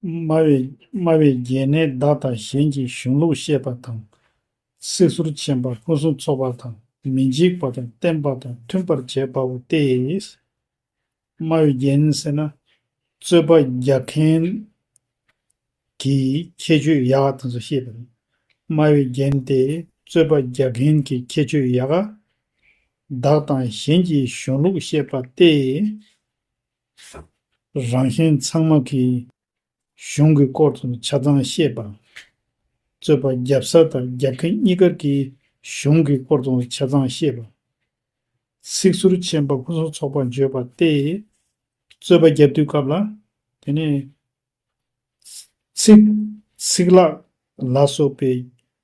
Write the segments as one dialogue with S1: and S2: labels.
S1: སྨྲ་བའི་རྒྱན་ནི་བདག་དང་གཞན་གྱི་གཞུང་ལུགས་ཤེས་པ་དང། སྲིད་ཟུར་མཁྱེན་པ་ཕུན་སུམ་ཚོགས་པ་དང་མི་འཇིགས་པ་དང་བརྟན་པ་དང་མཐུན་པར་བྱེད་པའོ་སྟེ། སྨྲ་བརྒྱན་ཟེར་ན་རྩོད་པ་རྒྱག་མཁན་གྱི་ཁྱད་ཆོས་ཡག་དང་སོ་ཤེས་པ་རེད། སྨྲ་བརྒྱན་དེ་རྩོད་པ་རྒྱག་མཁན་གྱི་ཁྱད་ཆོས་ཡག་ག། བདག་དང་གཞན་གྱི་གཞུང་ལུགས་བཤད་པ་སྟེ། རང་གཞན་ཚང་མ་གིས་གཞུང་གི་སྐོར་དུ་ཆ་ཚང་བཤད་པ། རྩོད་པ་རྒྱབ་ས་དང་རྒྱབ་ཁེ་གཉིས་ཀར་གྱི་གཞུང་གི་སྐོར་དུ་ཆ་ཚང་བཤད་པ། ཚིག་ཟུར་མཆན་པ་ཕུན་སུམ་ཚོགས་པར་བརྗོད་པ་སྟེ། རྩོད་པ་རྒྱབ་དུས་སྐབས་ལ། དེ་ནས། ཚིག། ཚིག་ལྷག། ལ་སོགས་པའི་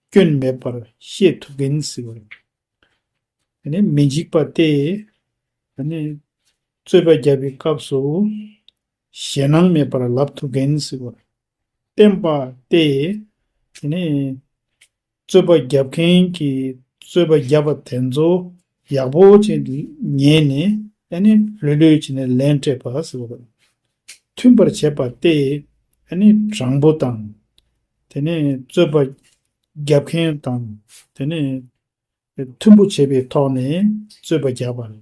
S1: སྐྱོན་མེད་པར་བཤད་ཐུབ་མཁན་ཟེར་བ་རེད། དེ་ནས་མི་འཇིགས་པ་སྟེ། དེ་ནས། རྩོད་པ་རྒྱབ་པའི་སྐབས་སུ། ཞེད་སྣང་མེད་པར་ལབ་ཐུབ་མཁན་ཟེར་བ་རེད། བསྟན་པ་སྟེ། དེ་ནས། རྩོད་པ་བརྒྱབ་མཁན་གྱིས་རྩོད་པ་བརྒྱབ་པ་དེ་ཚོ་ཡག་པོ་བྱས་འདུག་ཉན་ནས་ཨ་ནི་ལྷོད་ལྷོད་བྱས་ནས་ལན་སྤྲད་པ་ཟེར་བ་རེད། མཐུན་པར་བྱས་པ་སྟེ། ཨ་ནི་དྲང་པོ་དང། དེ་ནས་རྩོད་པ་བརྒྱབ་མཁན་དང་དེ་ནས་མཐུན་པོ་བྱས་པའི་ཐོག་ནས་རྩོད་པ་བརྒྱབ་པ་རེད།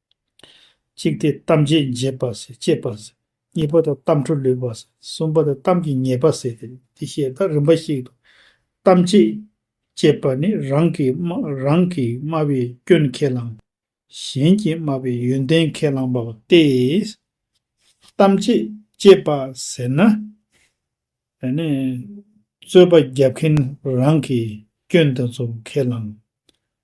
S1: གཅིག་སྟེ་གཏམ་རྗེས་འཇེབས་པ་ཟེར་གཅེས་པ་ཟེར། གཉིས་པ་དང་གཏམ་འཕྲོ་ལུས་པ་ཟེར་གསུམ་པ་དང་གཏམ་གྱི་ཉེས་པ་ཟེར་ཏེ་དེ་བཤད་སྟངས་རིམ་པ་ཞིག་ཏུ། གཏམ་རྗེས་གཅེས་པ་ནི་རང་གིས་རང་གིས་སྨྲ་བའི་སྐྱོན་ཁས་བླངས། གཞན་གྱིས་སྨྲ་བའི་ཡོན་ཏན་ཁས་བླངས་པ་སྟེ། གཏམ་རྗེས་གཅེས་པ་ཟེར་ན། རྩོད་པ་རྒྱབ་མཁན་རང་གིས་སྐྱོན་དེ་ཚོ་ཁས་བླངས།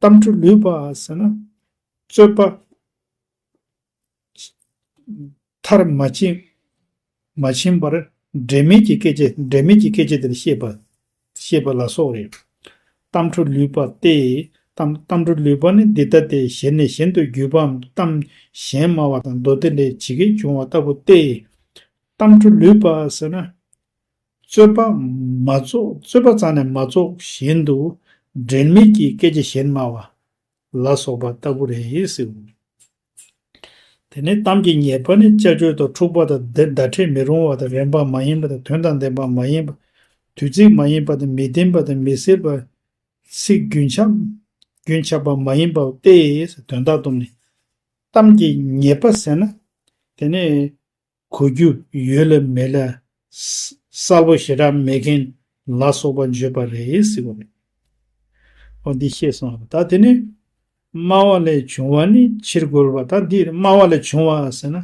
S1: གཏམ་འཕྲུལ་ལུས་པ་ཟེར་ན། རྩོད་པ། མཐར་མ་ཕྱིན། མ་ཕྱིན་པར། འབྲེལ་མེད་ཀྱི་སྐད་ཆ་འབྲེལ་མེད་ཀྱི་སྐད་ཆ་དེར་བཤད་པ། ཞེས་པ་ལ་སོགས་རེད། གཏམ་འཕྲུལ་ལུས་པ་སྟེ། གཏམ་འཕྲུལ་ལུས་པ་ནི་འདི་ལྟ་སྟེ་གཞན་ནས་གཞན་དུ་བརྒྱུད་པའམ་གཏམ་གཞན་སྨྲ་བ་དང་མདོ་སྡེ་ལས་ཇི་སྐད་འབྱུང་བ་ལྟ་བུ་སྟེ། གཏམ་འཕྲུལ་ལུས་པ་ཟེར་ན། རྩོད་པ་མ་རྫོགས་རྩོད་པ་རྩ་ནས་མ་རྫོགས་བཞིན་དུ། འབྲེལ་མེད་ཀྱི་སྐད་ཆ་གཞན་སྨྲ་བ། ལ་སོགས་པ་ལྟ་བུ་རེད། དེ་ནས་གཏམ་གྱི་ཉེས་པ་ནི་དཔྱད་བརྗོད་དང་འཁྲུག་པ་དང་བརྡ་འཕྲད་མི་རུང་བ་དང་རན་པ་མ་ཡིན་པ་དང་དོན་དང་ལྡན་པ་མ་ཡིན་པ། དུས་ཚིགས་མ་ཡིན་པ་དང་མི་བདེན་པ་དང་མི་གསལ་བ། ཚིག་རྒྱུན་ཆགས་པ་མ་ཡིན་པ་སྟེ། དོན་དག་དུམ་ནི། གཏམ་གྱི་ཉེས་པ་ཟེར་ན། དེ་ནི། གོ་རྒྱུ་ཡོད་ལ་མེད་ལ། གསལ་པོ་ཞེ་དྲག་མེད་མཁན་ལ་སོགས་པ་བརྗོད་པ་རེད་ཟེར་བ་རེད། ཨོ་འདི་ཤེས་སོང་ད་དེ་ནི། སྨྲ་བ་ལས་བྱུང་བ་ནི་ཕྱིར་རྒོལ་བ་ད་འདིར་སྨྲ་བ་ལས་བྱུང་བ་ཟེར་ན།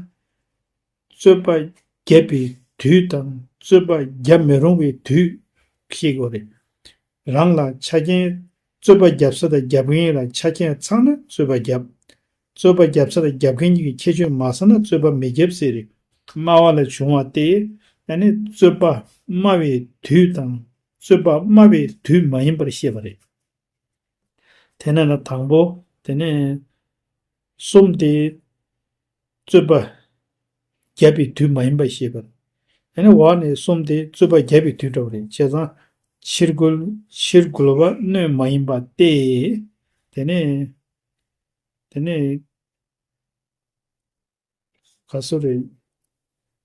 S1: རྩོད་པ་བརྒྱབ་པའི་དུས་དང་རྩོད་པ་བརྒྱབ་མི་རུང་བའི་དུས་ཤེས་དགོས་རེད། རང་ལ་ཆ་རྐྱེན་རྩོད་པ་བརྒྱབ་ས་དང་བརྒྱབ་མཁན་ལ་ཆ་རྐྱེན་ཚང་ན་རྩོད་པ་བརྒྱབ། རྩོད་པ་རྒྱབ་ས་ལ་རྒྱབ་མཁན་གཉིས་ཀྱི་ཁྱད་ཆོས་མ་ཟ་ན་རྩོད་པ་མི་རྒྱབ་ཟེར། སྨྲ་བ་ལས་བྱུང་བ་སྟེ། ཡང་ནི་རྩོད་པ་སྨྲ་བའི་དུས་དང་རྩོད་པ་སྨྲ་བའི་དུས་མ་ཡིན་པར་བཤད་པ་རེད། དེ་ན་ན་དང་པོ་དེ་ནས་གསུམ་སྟེ། རྩོད་པ་རྒྱབ་པའི་དུས་མ་ཡིན་པར་བཤད་པ། ཡང་ནི་འོག་ནས་གསུམ་སྟེ་རྩོད་པ་རྒྱབ་པའི་དུས་འདྲ་བ་རེད་བྱས་ཙང། ཕྱིར་རྒོལ་ཕྱིར་རྒོལ་བ་སྣོད་མ་ཡིན་པ་སྟེ། དེ་ནས། དེ་ནས་ག་སོ་རེ།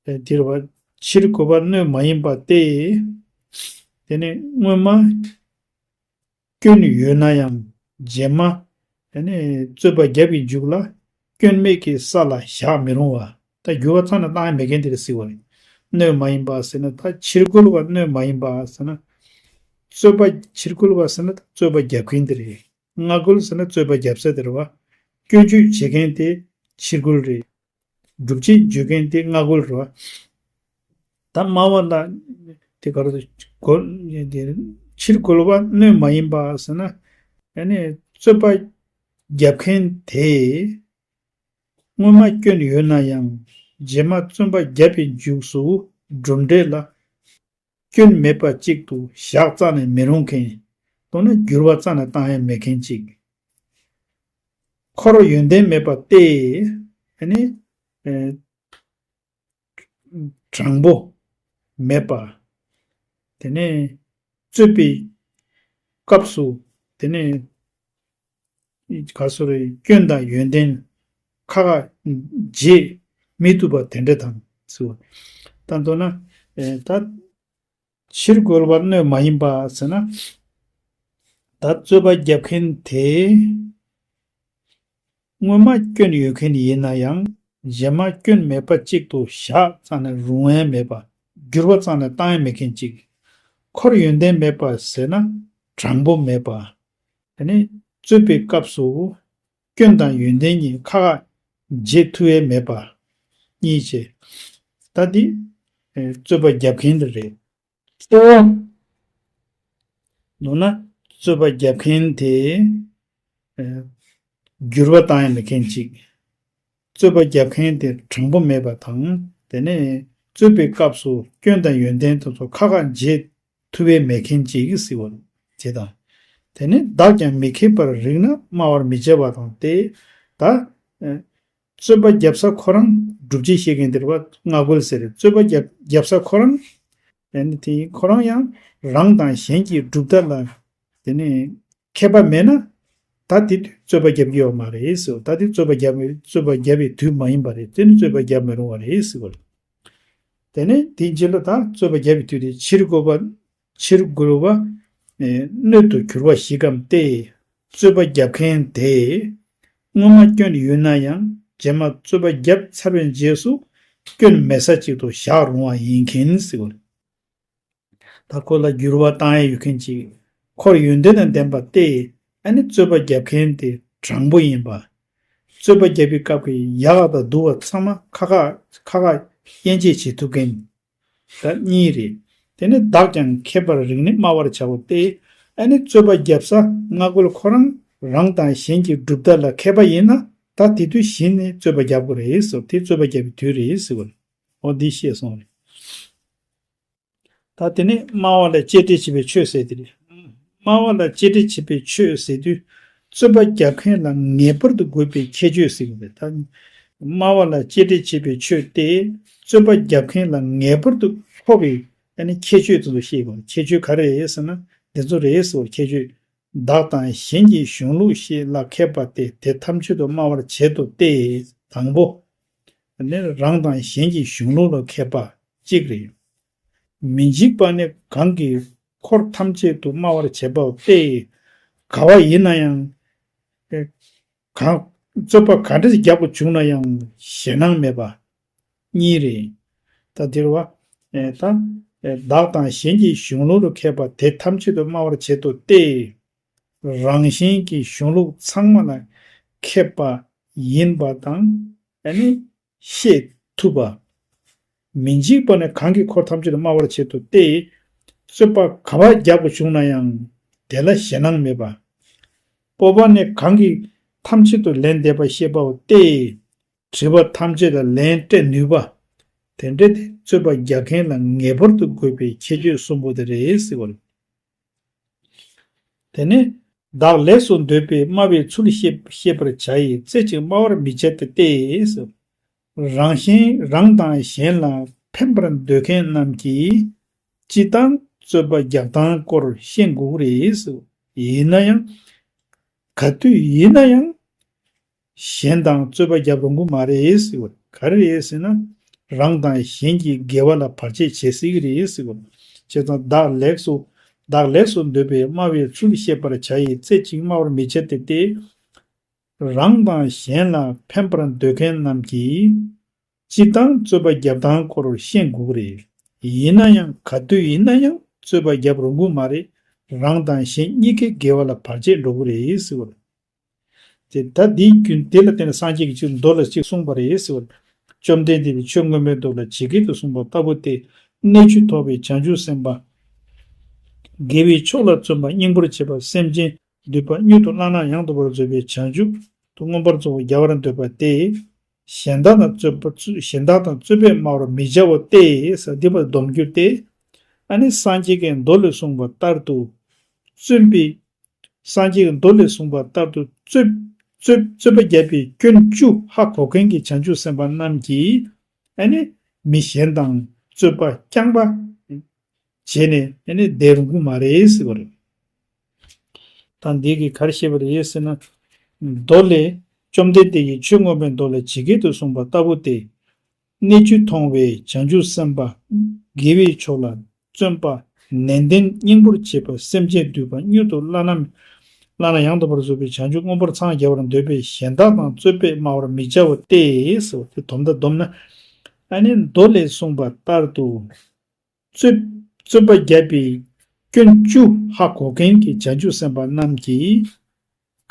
S1: དེར་བ་ཕྱིར་གོ་བ་སྣོད་མ་ཡིན་པ་སྟེ། དེ་ནས་སྔོན་མ་སྐྱོན་ཡོད་ན་ཡང་རྗེས་མ་དེ་ནས་རྩོད་པ་རྒྱབ་ཀྱི་འཇུག་ལ་སྐྱོན་མེད་ཀྱི་ས་ལ་བཞག་མི་རུང་བ་ད་རྒྱུ་བ་ཚང་ན་བཏང་ཡ་མེད་མཁན་དེར་སྲིད་བ་རེད། སྣོད་མ་ཡིན་པ་ཟེར་ན་ད་ཕྱིར་གོལ་བ་སྣོད་མ་ཡིན་པ་ཟེར་ན། རྩོད་པ་ཕྱིར་གོལ་བ་ཟེར་ན་རྩོད་པ་རྒྱབ་མཁན་དེ་རེད། སྔ་རྒོལ་ཟེར་ན་རྩོད་པ་བརྒྱབ་ས་དེར་བསྐྱོད་བརྗོད་བྱེད་མཁན་དེ་ཕྱི་རྒོལ་རེད། སྒྲུབ་བྱེད་བརྗོད་མཁན་དེ་སྔ་རྒོལ་རེད། ད་སྨྲ་བ་ལ་དེ་ག་རེ་ཕྱི་རྒོལ་བ་སྣོད་མ་ཡིན་པ་ཟེར་ན། ཡ་ནི་རྩོད་པ་བརྒྱབ་མཁན་དེས་སྔོན་མ་བསྐྱོན་ཡོད་ན་ཡང་རྗེས་མ་བཙོན་པ་བརྒྱབ་པའི་མཇུག་སུ་གྲུབ་འབྲས་ལ། སྐྱོན་མེད་པ་ཅིག་ཏུ་བཞག་རྩ་ནས་མི་རུང་མཁན། མདོར་ན་འགྱུར་བ་རྩ་ནས་བཏང་ཡ་མེད་མཁན་ཅིག། འཁོར་ཡོན་ཏན་མེད་པ་སྟེ། དེ་ནི། དྲང་པོ། མེད་པ། དེ་ནི། རྩོད་པའི། སྐབས་སུ། དེ་ནི། ག་སོ་རའི་སྐྱོན་དང་ཡོན་ཏན་ཁ་ཁ་འབྱེད་མི་ཐུབ་པ་དེ་འདྲ་དང། དང་དོ་ན། ད་ཕྱིར་རྒོལ་བར་གནོད་མ་ཡིན་པ་ཟེར་ན། ད་རྩོད་པ་བརྒྱབ་མཁན་དེ། སྔོན་མ་སྐྱོན་ཡོད་མཁན་ཡིན་ན་ཡང་རྗེས་མ་སྐྱོན་མེད་པ་གཅིག་ཏུ་བཞག་ཙང་ནས་རུང་བས་མེད་པ། འགྱུར་བ་ཙང་ནས་བཏང་ཡས་མེད་མཁན་གཅིག། ཁོར་ཡོན་ཏན་མེད་པ་ཟེར་ན་དྲང་པོ་མེད་པ། དེ་ནས་རྩོད་པའི་སྐབས་སུ། སྐྱོན་དང་ཡོན་ཏན་གཉིས་ཁ་ཁ། རྗེས་ཐུ་བས་མེད་པར། གཉིས་ཆེ། ད་འདི། རྩོད་པ་བརྒྱབ་མཁན་དེ་རེད། ཁྱེད་རང། མདོར་ན། རྩོད་པ་བརྒྱབ་མཁན་དེ། འགྱུར་བ་བཏང་ཡ་མེད་མཁན་གཅིག། རྩོད་པ་བརྒྱབ་མཁན་དེ་དྲང་པོ་མེད་པ་དང། དེ་ནས་རྩོད་པའི་སྐབས་སུ་སྐྱོན་དང་ཡོན་ཏན་དེ་ཚོ་ཁ་ཁ། རྗེས་ཐུ་བའི་མེ་མཁན་བྱེད་ཀྱི་སྲིད་བར་བྱེད་དང། དེ་ནས་བདག་ཀྱང་མི་མཁས་པར་རིག་ན་སྨྲ་བར་མི་བྱ་བ་དང་སྟེ། ད། རྩོད་པ་བརྒྱབ་ས་ཁོ་རང་སྒྲུབ་བྱེད་ཤེས་མཁན་དེར་བ་ང་རྒོལ་ཟེར་རྩོད་པ་བརྒྱབ་ས་ཁོ་རང། དེ་ནས་དེ་ཁོ་རང་ཡང་རང་དང་གཞན་གྱི་གྲུབ་མཐའ་ལ། དེ་ནས་མཁས་པ་མེད་ན། ད་དེ་དུས་རྩོད་པ་བརྒྱབ་ཀྱི་ཡོད་མ་རེད་ཟེར་ད་དེ་རྩོད་པ་བརྒྱབ་མེད་རྩོད་པ་བརྒྱབ་པའི་དུས་མ་ཡིན་པ་རེད་དེ་ནི་རྩོད་པ་བརྒྱབ་མི་རུང་བ་རེད་ཟེར་གི་རེད། དེ་ནས་དེ་འཇིག་ལ་ད་རྩོད་པ་བརྒྱབ་པའི་དུས་དེ་ཕྱིར་རྒོལ་བ། ཕྱིར་རྒོལ་བ། སྣོད་དུ་གྱུར་བ་ཞིག་གམ་སྟེ། རྩོད་པ་བརྒྱབ་མཁན་དེས་སྔོན་མ་སྐྱོན་ཡོད་ན་ཡང་རྗེས་མ་རྩོད་པ་བརྒྱབ་ཚར་བའི་རྗེས་སུ་སྐྱོན་མེད་ས་ཅིག་ཏུ་བཞག་རུང་བ་ཡིན་གྱིན་ཟེར་གི་རེད། ད་ཁོ་ལ་འགྱུར་བ་བཏང་ཡས་ཡོད་མཁན་ཅིག་ཁོར་ཡོན་ཏན་དང་ལྡན་པ་སྟེ་ཨ་ནི་རྩོད་པ་རྒྱབ་མཁན་དེ་དྲང་པོ་ཡིན་པ། རྩོད་པ་རྒྱབ་པའི་སྐབས་ཀྱི་ཡག་དང་སྡུག་བ་ཚང་མ་ཁ་ཁ་ཁ་ཁ་དབྱེ་འབྱེད་བྱེད་ཐུབ་མཁན་ད་གཉིས་རེད་དེ་ནི་བདག་ཀྱང་མཁས་པར་རིག་ནས་སྨྲ་བར་བྱའོ་སྟེ་ཨ་ནི་རྩོད་པ་རྒྱབ་ས་སྔ་རྒོལ་ཁོ་རང་རང་དང་གཞན་གྱི་གྲུབ་མཐའ་ལ་མཁས་པ་ཡིན་ན་ད་དེ་དུས་གཞི་ནས་རྩོད་པ་རྒྱབ་དགོས་རེད་ཟེར་དེ་རྩོད་པ་རྒྱབ་པའི་དུས་རེད་ཟེར་དགོས་རེད། ཨོ་འདི་ཤེས་སོང་རེད། ད་དེ་ནས་སྨྲ་བ་ལ་གཅེས་སྤྲས་བྱེད་པའི་ཆོས་ཟེར་ཏེ་རེད། སྨྲ་བ་ལ་གཅེས་སྤྲས་བྱེད་པའི་ཆོས་ཟེར་དུས་རྩོད་པ་རྒྱག་མཁན་ལ་ངེས་པར་དུ་དགོས་པའི་ཁྱད་ཆོས་ཟེར་གྱི་རེད། ད་སྨྲ་བ་ལ་གཅེས་སྤྲས་བྱེད་པའི་ཆོས་དེ་རྩོད་པ་རྒྱག་མཁན་ལ་ངེས་པར་དུ་མཁོ་བའི་ཁྱད་ཆོས་དེ་ཚོ་ཤེས་དགོས་རེད། ཁྱད་ཆོས་ག་རེ་རེད་ཟེར་ན་འདི་ཚོ་རེད་ཟེར་བར་ཁྱད་ཆོས། བདག་དང་གཞན་གྱི་གཞུང་ལུགས་ཤེས་བླ་མཁས་པ་དེ་དེ་ཐམས་ཅད་དུ་སྨྲ་བར་བྱེད་དོ་སྟེ། དང་པོ། ནི་རང་དང་གཞན་གྱི་གཞུང་ལུགས་ལ་མཁས་པ་གཅིག་རེད། མི་འཇིགས་པ་ནི་གང་གིས་འཁོར་ཐམས་ཅད་དུ་སྨྲ་བར་བྱེད་པ་པས་དགའ་བ་ཡིན་ན་ཡང། རྩོད་པ་ག་འདྲ་ཞིག་རྒྱག་པ་བྱུང་ན་ཡང་ཞེད་སྣང་མེད་པ་གཉིས་རེད། ད་དེར་བ། ད། བདག་དང་གཞན་གྱི་གཞུང་ལུགས་ལ་མཁས་པ་དེ་ཐམས་ཅད་དུ་སྨྲ་བར་བྱེད་དོ་སྟེ། རང་བཞིན་གྱི་གཞུང་ལུགས་ཚང་མ་ལ་ཁེབས་པ་ཡིན་པ་དང། ཡང་ནི་ཤེས་ཐུབ་པ། མི་འཇིགས་པ་ནི་གང་གིས་འཁོར་ཐམས་ཅད་དུ་སྨྲ་བར་བྱེད་དོ་སྟེ། རྩོད་པ་ག་བ་རྒྱག་པ་བྱུང་ན་ཡང་དེ་ལ་ཞེད་སྣང་མེད་པ། སྤོབས་པ་ནི་གང་གིས་ཐམས་ཅད་དུ་ལན་འདེབས་པ་ཤེས་པའོ་སྟེ། དྲིས་པ་ཐམས་ཅད་ལ་ལན་སྤྲད་ནུས་པ། དེ་འདྲ་དེ་རྩོད་པ་རྒྱག་མཁན་ལ་ངེས་པར་དུ་དགོས་པའི་ཁྱད་ཆོས་གསུམ་པོ་དེ་རེད། དེ་ནས། བདག་ལེགས་སོ་འདོད་པས་སྨྲ་བའི་ཚུལ་ཤེས་པར་བྱ་ཡི་རྩེ་གཅིག་སྨྲ་བར་མི་བྱེད་དེ་སྟེ། རང་བཞིན་རང་དང་གཞན་ལ་ཕན་པར་འདོད་མཁན་རྣམས་ཀྱིས། སྤྱི་བཏང་རྩོད་པ་རྒྱག་སྟངས་སྐོར་ཤེས་དགོས་རེད། ཡིན་ན་ཡང། ག་དུས་ཡིན་ན་ཡང། གཞན་དང་རྩོད་པ་བརྒྱབ་རུང་གི་མ་རེད་ཟེར་བ་ག་རེ་རེད་ཟེར་ན། རང་དང་གཞན་གྱི་འགལ་བ་ལ་བར་ཆད་བྱེད་སྲིད་ཀྱི་རེད་ཟེར་བ། བྱས་ཙང་བདག་ལེགས་སོ། བདག་ལེགས་སོ་འདོད་པས་སྨྲ་བའི་ཚུལ་བཤད་པར་བྱ་ཡི་རྩེ་གཅིག་སྨྲ་བར་མི་བྱ་སྟེ། རང་དང་གཞན་ལ་ཕན་པར་འདོད་མཁན་རྣམས་ཀྱིས། སྤྱིར་བཏང་རྩོད་པ་བརྒྱབ་སྟངས་སྐོར་ཤེས་དགོས་ཀྱི་རེད། ཡིན་ན་ཡང་ག་དུས་ཡིན་ན་ཡང་རྩོད་པ་བརྒྱབ་རུང་གི་མ་རེད། རང་དང་གཞན་གཉིས་ཀའི་འགལ་བ་ལ་བར་ཆད་འགྲོ་གི་རེད་ཟེར་བ། ད་འདིའི་རྒྱུན་དེ་ལ་བརྟེན་ནས་སངས་རྒྱས་ཀྱི་ཆོས་མདོ་ལ་གཅིག་གསུངས་པ་རེད་ཟེར་བ་ལྟར་བཅོམ་ལྡན་འདས་ཀྱིས་ཆོས་སྔོན་མོའི་མདོ་ལ་ཇི་སྐད་དུ་གསུངས་པ་ལྟ་བུ་སྟེ། གནས་བཅུ་ཐོབ་པའི་བྱང་ཆུབ་སེམས་དཔའ། དགེ་བའི་ཕྱོགས་ལ་བརྩོན་པ་སྙིང་པོར་བྱེད་པ་སེམས་ཅན་འདུལ་བ་སྙུད་དུ་བླང་ན་ཡང་དག་པར་བཟོད་པའི་བྱང་ཆུབ་ཏུ་མངོན་པར་གཙོ་བོ་རྒྱལ་བར་འདོད་པ་སྟེ། གཞན་དག་དང་རྩོད་པ་གཞན་དག་དང་རྩོད་པས་སྨྲ་བར་མི་བྱའོ་སྟེ་སྡིག་པར་སྡོམ་རྒྱུ་སྟེ། ཨ་ནི་སངས་རྒྱས་ཀྱི་མདོ་ལས་གསུངས་པ་ལྟར་དུ། བརྩོན་པས་སངས་རྒྱས་ཀྱི་མདོ་ལས་གསུངས་པ་ལྟར་དུ་རྩོད། པ་བརྒྱད་པའི་སྐྱོན་བཅུ་ཧ་གོ་མཁན་གྱི་བྱང་ཆུབ་སེམས་དཔའ་རྣམས་ཀྱིས། ཨ་ནི། མི་གཞན་དང་རྩོད་པ་རྐྱང་པ། བྱས་ནས་ཨ་ནི་བསྡད་རུང་གི་མ་རེད་ཟེར་བ་རེད། དང། འདི་གིས་ག་རེ་བཤད་པ་རེད་ཟེར་ན། མདོ་ལས། བཅོམ་ལྡན་འདས་ཀྱིས་ཆོས་མངོན་པའི་མདོ་ལ་ཇི་སྐད་དུ་གསུངས་པ་ལྟ་བུ་སྟེ། གནས་བཅུ་མཐོང་བའི་བྱང་ཆུབ་སེམས་དཔའ་དགེ་བའི་ཕྱོགས་ལ་བརྩོན་པ་ནན་ཏན་སྙིང་པོར་བྱེད་པ་སེམས་ཅན་བསྡུས་པ་སྙུད་དུ་བླ་ན་མེད་བླ་ན་ཡང་དག་པར་བཟོད་པའི་བྱང་ཆུབ་མངོན་པར་འཚང་རྒྱ་བར་འདོད་པས་གཞན་དག་དང་རྩོད་པས་སྨྲ་བར་མི་བྱ་བ་སྟེ། དེ་དོམ་དང་བསྡོམས་ན་ནི་མདོ་ལས་གསུངས་པ་ལྟར་དུ། རྩོད། རྩོད་པ་བརྒྱབ་པའི་སྐྱོན་བཅུ། ཧ་གོ་མཁན་གྱི་བྱང་ཆུབ་སེམས་དཔའ་རྣམས་ཀྱིས།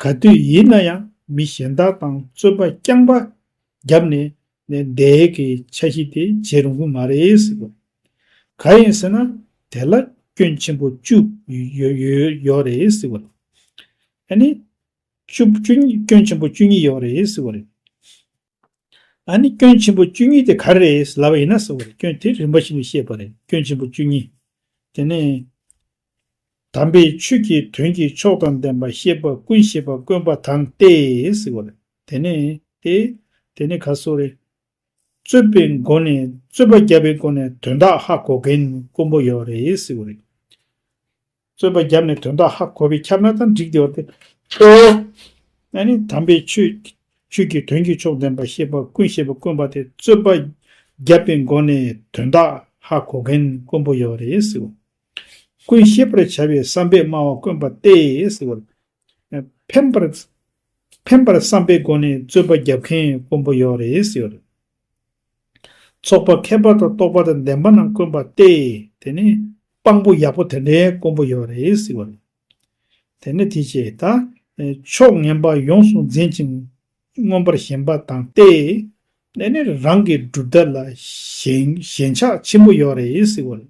S1: ག་དུས་ཡིན་ན་ཡང་མི་གཞན་དག་དང་རྩོད་པ་རྐྱང་པ་བརྒྱབ་ནས་ནས་བསྡད་ཀྱི་ཆ་གཞི་དེ་བྱེད་རུང་གི་མ་རེད་ཟེར་དགོས། ག་ཡིན་ཟེར་ན་དེ་ལ་སྐྱོན་ཆེན་པོ་བཅུ་ཡོད་རེད་ཟེར་དགོས། ཨ་ནི། སྐྱོན་ཆེན་པོ་བཅུ་གཉིས་ཡོད་རེད་ཟེར་དགོས་རེད། ད་ནི་སྐྱོན་ཆེན་པོ་བཅུ་གཉིས་དེ་ག་རེད་ལབ་པ་ཡིན་ན་ཟེར་བ་རེད་སྐྱོན་དེ་རིམ་པ་བཞིན་དུ་བཤད་པ་རེད་སྐྱོན་ཆེན་པོ་བཅུ་གཉིས་དེ་ནི། དམ་པའི་ཆོས་ཀྱི་དོན་གྱི་མཆོག་དང་ལྡན་པ་ཤེས་པ་ཀུན་ཤེས་པ་དཀོན་པ་དང་སྟེ་ཟེར་བ་རེད་དེ་ནི་དེ་དེ་ནི་ག་སོགས་རེད། རྩོད་པའི་སྒོ་ནས་རྩོད་པ་རྒྱབ་པའི་སྒོ་ནས་དོན་དག་ཧ་གོ་མཁན་དཀོན་པོ་ཡོད་རེད་ཟེར་བ་རེད། རྩོད་པ་བརྒྱབ་ནས་དོན་དག་ཧ་གོ་བས་ཁྱབ་ན་ཙམ་འགྲིག་བདེ་བ་སྟེ། ཨ་ནི་དམ་པའི་ཆོས་ཆོས་ཀྱི་དོན་གྱི་མཆོག་བདེན་པར་ཤེས་པ་ཀུན་ཤེས་པ་དཀོན་པ་དེ་རྩོད་པ་བརྒྱབ་པའི་མགོ་ནས་དོན་དག་ཧ་གོ་མཁན་དཀོན་པོ་ཡོད་རེད་ཟེར་བ། ཀུན་ཤེས་པར་བྱ་བའི་བསམ་པས་སྨྲ་བ་དཀོན་པ་སྟེ་ཟེར་བ། ཕན་པར་ཕན་པར་བསམ་པའི་སྒོ་ནས་རྩོད་པ་རྒྱབ་མཁན་དཀོན་པོ་ཡོད་རེད་ཟེར་བ་རེད། ཚོགས་པ་མཁས་པ་དང་རྟོགས་པ་དང་ལྡན་པ་རྣམས་དཀོན་པ་སྟེ་དེ་ནི་དཔང་པོ་ཡག་པོ་དེ་འདྲའི་དཀོན་པོ་ཡོད་རེད་ཟེར་བ་རེད། དེ་ནི་དེ་ཆེ་ད། ཕྱོགས་ངན་པ་ཡོངས་སུ་འཛིན་ཅིང་མངོན་པར་ཞེན་པ་དང་སྟེ། དེ་ནི་རང་གི་གྲུབ་མཐའ་ལ་ཞེན་ཆགས་ཆེན་པོ་ཡོད་རེད་ཟེར་བ་རེད།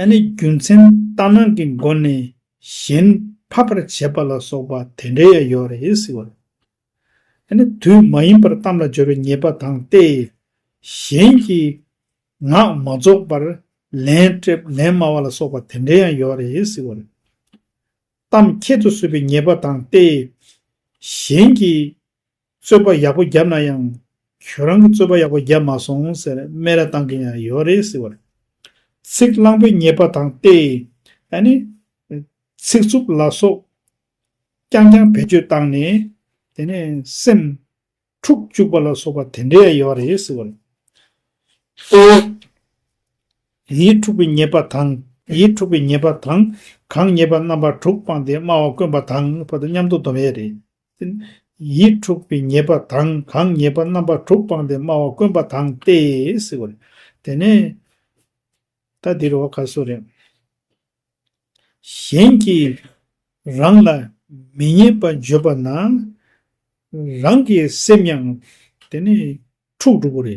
S1: ཨ་ནི་རྒྱུ་མཚན་ལྟ་སྣང་གི་སྒོ་ནས་གཞན་ཕབ་པར་བྱེད་པ་ལ་སོགས་པ་དེ་འདྲའི་ཡང་ཡོད་རེད་ཟེར་བ་རེད། ཨ་ནི་དུས་མ་ཡིན་པར་གཏམ་ལ་སྦྱོར་བའི་ཉེས་པ་དང་སྟེ། གཞན་གྱི་ངག་མ་རྫོགས་པར་ལན་སྤྲད་ལན་སྨྲ་བ་ལ་སོགས་པ་དེ་འདྲའི་ཡང་ཡོད་རེད་ཟེར་བ་རེད། གཏམ་ཁྱད་དུ་གསོད་པའི་ཉེས་པ་དང་སྟེ། གཞན་གྱི་རྩོད་པ་ཡག་པོ་བརྒྱབ་ན་ཡང། ཁྱོད་རང་གི་རྩོད་པ་ཡག་པོ་བརྒྱབ་མ་སོང་ཟེར་སྨད་ར་བཏང་གིན་ཡང་ཡོད་རེད་ཟེར་བ་རེད། ཚིག་བརླང་པོའི་ཉེས་པ་དང་སྟེ། ཨ་ནི། ཚིག་རྩུབ་ལ་སོགས། རྐྱང་རྐྱང་བེད་སྤྱོད་བཏང་ནས། དེ་ནས་སེམས། འཁྲུག་བཅུག་པ་ལ་སོགས་པ་དེ་འདྲས་ཡོད་རེད་ཟེར་བ་རེད། གཙོ་བོ། ཡིད་འཁྲུག་པའི་ཉེས་པ་དང། ཡིད་འཁྲུག་པའི་ཉེས་པ་དང། གང་ཉེས་པ་རྣམ་པ་དྲུག་སྤངས་ཏེ་སྨྲ་བ་དཀོན་པ་དང་བར་དུ་མཉམ་དུ་འདོམས་ཡས་རེད། ཡིད་འཁྲུགས་པའི་ཉེས་པ་དང་གང་ཉེས་པ་རྣམ་པ་དྲུག་སྤངས་ཏེ་སྨྲ་བ་དཀོན་པ་དང་སྟེ། དེ་ནས་ད་འདིར་བ་ག་སུ་རེ། གཞན་གྱིས་རང་ལ་མི་ཉེས་པ་བརྗོད་པ་ན་རང་གི་སེམས་ཡང་དེ་ནས་འཁྲུགས་འགྲོ་བོ་རེ།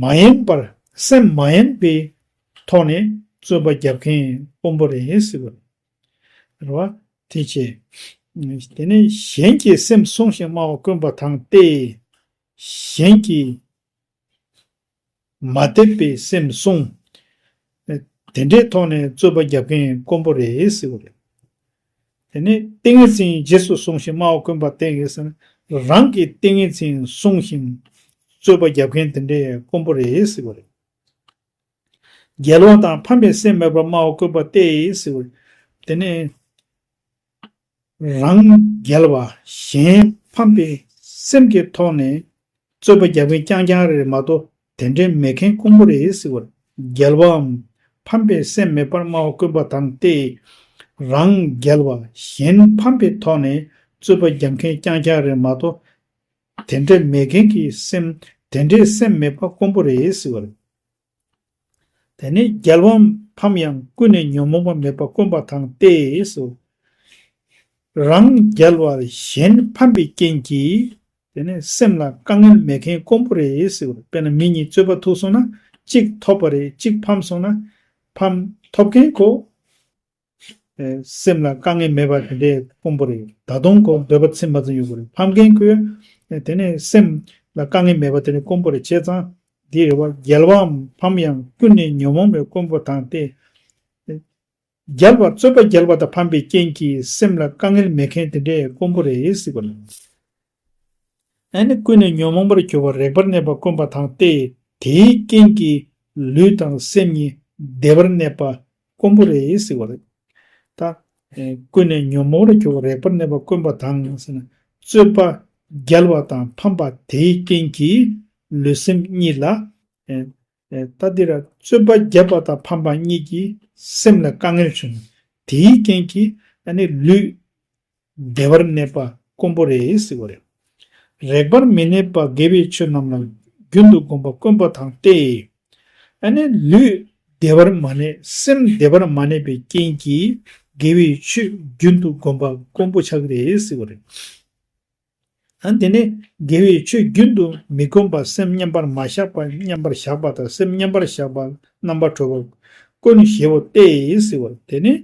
S1: མ་ཡེངས་པར་སེམས་མ་ཡེངས་པའི་ཐོག་ནས་རྩོད་པ་རྒྱབ་མཁན་དཔོན་པོ་རེད་ཟེར་བ། རེད་བ། དེ་བྱས། དེ་ནས་གཞན་གྱི་སེམས་བསྲུང་ཞིང་སྨྲ་བ་དཀོན་པ་དང་སྟེ། གཞན་གྱིས་མ་དད་པའི་སེམས་བསྲུང། དེ་འདྲའི་ཐོག་ནས་རྩོད་པ་རྒྱབ་མཁན་དཀོན་པོ་རེད་ཟེར་བ། རེད་དེ་ནས་ཏིང་ངེ་འཛིན་རྗེས་སུ་བཟུང་ཞིང་སྨྲ་བ་དཀོན་པ་བསྟེན་ཡོད་ཟེར་ན་རང་གི་ཏིང་ངེ་འཛིན་བསྲུང་ཞིང་རྩོད་པ་བརྒྱབ་མཁན་དེ་འདྲའི་དཀོན་པོ་རེད་ཟེར་བ་རེད། རྒྱལ་བ་དང་ཕམ་པའི་སེམས་མེད་པར་སྨྲ་བ་དཀོན་པ་བསྟེན་ཡོད་ཟེར་བ་རེད། དེ་ནས་རང་རྒྱལ་བ་གཞན་ཕམ་པའི་སེམས་ཀྱི་ཐོག་ནས་རྩོད་པ་བརྒྱབ་མཁན་རྐྱང་རྐྱང་རེད་མ་གཏོགས་དེ་འདྲའི་མེད་མཁན་དཀོན་པོ་རེད་ཟེར་བར་རྒྱལ་བའམ། ཕམ་པའི་སེམས་མེད་པར་སྨྲ་བ་དཀོན་པ་དང་སྟེ། རང་རྒྱལ་བ་གཞན་ཕམ་པའི་ཐོག་ནས་རྩོད་པ་རྒྱག་མཁན་རྐྱང་རྐྱང་རེད་མ་གཏོགས། དེ་འདྲའི་མེད་མཁན་གྱི་སེམས་དེ་འདྲའི་སེམས་མེད་པ་དཀོན་པོ་རེད་ཟེར་བར། དེ་ནས་རྒྱལ་བའམ་ཕམ་ཡང་ཀུན་ནས་ཉོན་མོངས་པ་མེད་པ་དཀོན་པ་དང་སྟེ་ཟེར་བར། རང་རྒྱལ་བ་གཞན་ཕམ་པའི་རྐྱེན་གྱིས་དེ་ནས་སེམས་ལ་དཀའ་ངལ་མེད་མཁན་དཀོན་པོ་རེད་ཟེར་བ་རེད་དཔེར་ན་མི་གཉིས་རྩོད་པ་ཐུག་སོང་ན་གཅིག་ཐོབ་པ་རེད་གཅིག་ཕམ་སོང་ན་ཕམ། ཐོབ་མཁན་ཁོ། སེམས་ལ་དཀའ་ངལ་མེད་པ་དེ་འདྲས་དཀོན་པོ་རེད་ད་དུང་ཁོ་འདོད་པ་ཚིམ་མ་ཚིམ་ཡོད་དགོས་རེད་ཕམ་མཁན་ཁོ། དེ་ནས་སེམས་ལ་དཀའ་ངལ་མེད་པ་དེ་འདྲས་དཀོན་པོ་རེད་བྱས་ཙང་འདིའི་རེ་བ་རྒྱལ་བའམ་ཕམ་ཡང་ཀུན་ནས་ཉོན་མོངས་པའི་དཀོན་པོ་དང་སྟེ། རྒྱལ་བ་རྩོད་པ་རྒྱལ་བ་དང་ཕམ་པའི་རྐྱེན་གྱིས་སེམས་ལ་དཀའ་ངལ་མེད་མཁན་དེ་འདྲའི་དཀོན་པོ་རེད་སྲིད་པ་ལས། ཨ་ནི་ཀུན་ནས་ཉོན་མོངས་པར་གྱུར་པ་རེག་པར་གནས་པ་དཀོན་པ་དང་སྟེ་དེའི་རྐྱེན་གྱིས་ལུས་དང་སེམས་གཉིས་བདེ་བར་གནས་པ་དཀོན་པོ་རེད་སྲིད་པ་ལས། ད་ཨེ་ཀུན་ནས་ཉོན་མོངས་པར་གྱུར་པ་རེག་པར་གནས་པ་དཀོན་པ་དང་ཟེར་ན་རྩོད་པ་རྒྱལ་བ་དང་ཕམ་པ་དེའི་རྐྱེན་གྱིས་ལུས་སེམས་གཉིས་ལ། ལྟ་འདི་ར་རྩོད་པ་རྒྱབ་པ་དང་ཕམ་པ་གཉིས་ཀྱི་སེམས་ལ་དཀའ་ངལ་བྱུང། དེའི་རྐྱེན་གྱིས་ཨ་ནི་ལུས། བདེ་བར་གནས་པ་དཀོན་པོ་རེད་ཟེར་བ་རེད། རེག་པར་མི་གནས་པ་དགེ་བའི་ཆོས་རྣམས་ལ་རྒྱུན་དུ་བསྒོམ་པ་དཀོན་པོ་དང་སྟེ། ཨ་ནི་ལུས། བདེ་བར་མ་གནས་སེམས་བདེ་བར་མ་གནས་པའི་རྐྱེན་གྱིས་དགེ་བའི་ཆོས་རྒྱུན་དུ་བསྒོམ་པ་དཀོན་པོ་ཆགས་རེད་ཟེར་བ་རེད། ཡང་དེ་ནས་དགེ་བའི་ཆོས་རྒྱུན་དུ་མི་གོམས་པར་སེམས་མཉམ་པར་མ་བཞག་པར་མཉམ་པར་བཞག་པ་དང་སེམས་མཉམ་པར་བཞག་པར་རྣམ་པར་གྲོལ་བར་དཀོན་ནོ་ཞེ་བོ་སྟེ་ཟེར་བ་དེ་ནི།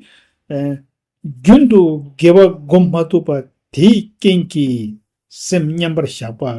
S1: རྒྱུན་དུ་དགེ་བ་བསྒོམ་མ་ཐུབ་པ་དེའི་རྐྱེན་གྱིས་སེམས་མཉམ་པར་བཞག་པ།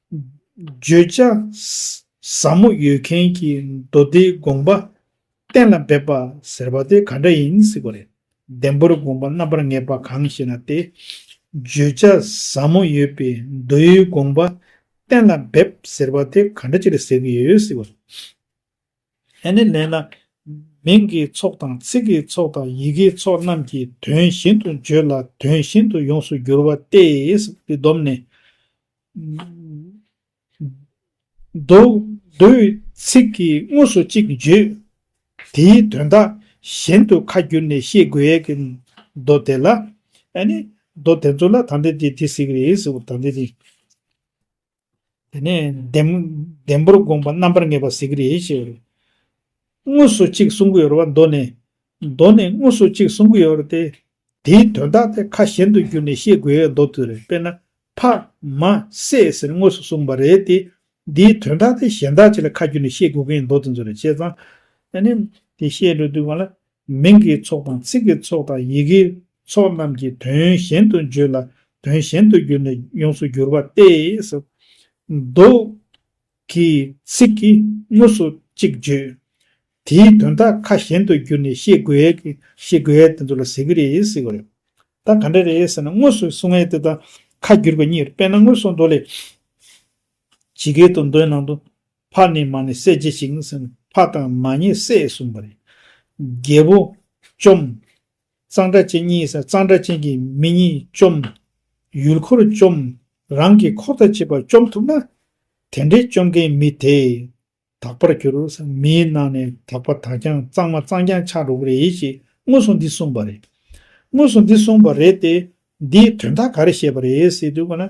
S1: བརྗོད་བྱ། ཟབ་མོ་ཡོད་མཁན་གྱི་མདོ་སྡེའི་དགོངས་པ་གཏན་ལ་འབེབས་པ་ཟེར་བ་དེ་ག་འདྲ་ཡིན་གཟིགས་པ་རེད། ལྡེམ་པོར་དགོངས་པ་རྣམ་པར་ངེས་པ་གང་ཞེ་ན་སྟེ། བརྗོད་བྱ་ཟབ་མོ་ཡོད་པའི་མདོའི་དགོངས་པ་གཏན་ལ་འབེབས་ཟེར་བ་དེ་ག་འདྲ་ཅིག་རེད་ཟེར་གྱི་ཡོད་གཟིགས་པ་རེད། ཧེ་ནི་ལེ་ན། མིང་གི་ཚོགས་དང་ཚིག་གི་ཚོགས་དང་ཡི་གེའི་ཚོགས་རྣམས་ཀྱི་དོན་བཞིན་དུ་བརྗོད་ལ་དོན་བཞིན་དུ་ཡོངས་སུ་འགྱུར་བ་སྟེ། འདི་སྡོམ་ནི། མདོའི་ཚིག་གིས་དངོས་སུ་གཅིག་བརྗོད། དེའི་དོན་དག་གཞན་དུ་ཁ་བསྒྱུར་ནས་ཤེས་དགོས་ཡས་ཀྱི་མདོ་དེ་ལ། ཨ་ནི། མདོ་དེ་ཚོ་ལ་དང་དེ་དེ་དེ་ཟེར་གྱི་རེད། དེ་ནས་ལྡེམ་པོར་དགོངས་པ་རྣམ་པར་ངེས་པ་གཟིགས་རེ་ཞེས་པ་རེད། དངོས་སུ་གཅིག་གསུང་གི་ཡོད་པ་མདོ་ནས། མདོ་ནས་དངོས་སུ་གཅིག་གསུང་གི་ཡོད་པ་དེ། དེའི་དོན་དག་དེ་ཁ་གཞན་དུ་བསྒྱུར་ནས་ཤེས་དགོས་ཡོད་མདོ་དུ་རེད་དཔེར་ན། ཕ། མ། སྲས་ཟེར་དངོས་སུ་གསུངས་པ་རེད་དེ། འདིའི་དོན་དག་དེ་གཞན་དག་ཅིག་ལ་ཁ་བསྒྱུར་ནས་ཤེས་དགོས་ཀྱི་ཡོད་མདོ་དེ་ཚོ་རེད་བྱས་ཙང། དེ་ནས་དེ་བཤད་འགྲོ་དུས་གང་ལ། མིང་གི་ཚོགས་དང་ཚིག་གི་ཚོགས་དང་ཡི་གེའི་ཚོགས་རྣམས་ཀྱི་དོན་གཞན་དུ་བརྗོད་ལ་དོན་གཞན་དུ་གྱུར་ནས་ཡོངས་སུ་འགྱུར་བ་སྟེ། མདོ། གི་ཚིག་གིས་དངོས་སུ་གཅིག་བརྗོད། དེའི་དོན་དག་ཁ་གཞན་དུ་བསྒྱུར་ནས་ཤེས་དགོས། ཤེས་དགོས། དེ་ཚོ་ལ་ཟེར་གི་རེད་ཟེར་གི་རེད། ད་ག་འདྲ་རེད་ཟེར་ན་དངོས་སུ་གསུང་ངེས་དེ་དང་ཁ་བསྒྱུར་བ་གཉིས་རེད་དཔེར་ན་དངོས་སུ་མདོ་ལས། ཇི་སྐད་དུ་མདོའི་ནང་དུ། ཕ་ནི་མ་ནི་སྲས་ཀྱིས་བྱིན་ཟིན། ཕ་དང་མ་གཉིས་སྲས་གསུངས་པ་རེད། རྒྱལ་པོ། བཅོམ། གཙང་སྦྲ་ཅན་གཉིས་སར་གཙང་སྦྲ་ཅན་གྱི་མི་གཉིས་བཅོམ། ཡུལ་འཁོར་བཅོམ། རང་གི་འཁོར་དང་བཅས་པ་བཅོམ་ཐུབ་ན། དེ་འདྲའི་བཅོམ་མཁན་མི་དེས་དག་པར་གྱུར། མིའི་ནང་ནས་དག་པ་དག་ཀྱང་གཙང་མ་གཙང་རྐྱང་ཆགས་འགྲོ་གི་རེད་ཅེས་དངོས་སུ་འདི་གསུངས་པ་རེད། དངོས་སུ་འདི་གསུངས་པ་རེད་དེ། འདིའི་དོན་དག་ག་རེ་བཤད་པ་རེད་ཟེར་དུས།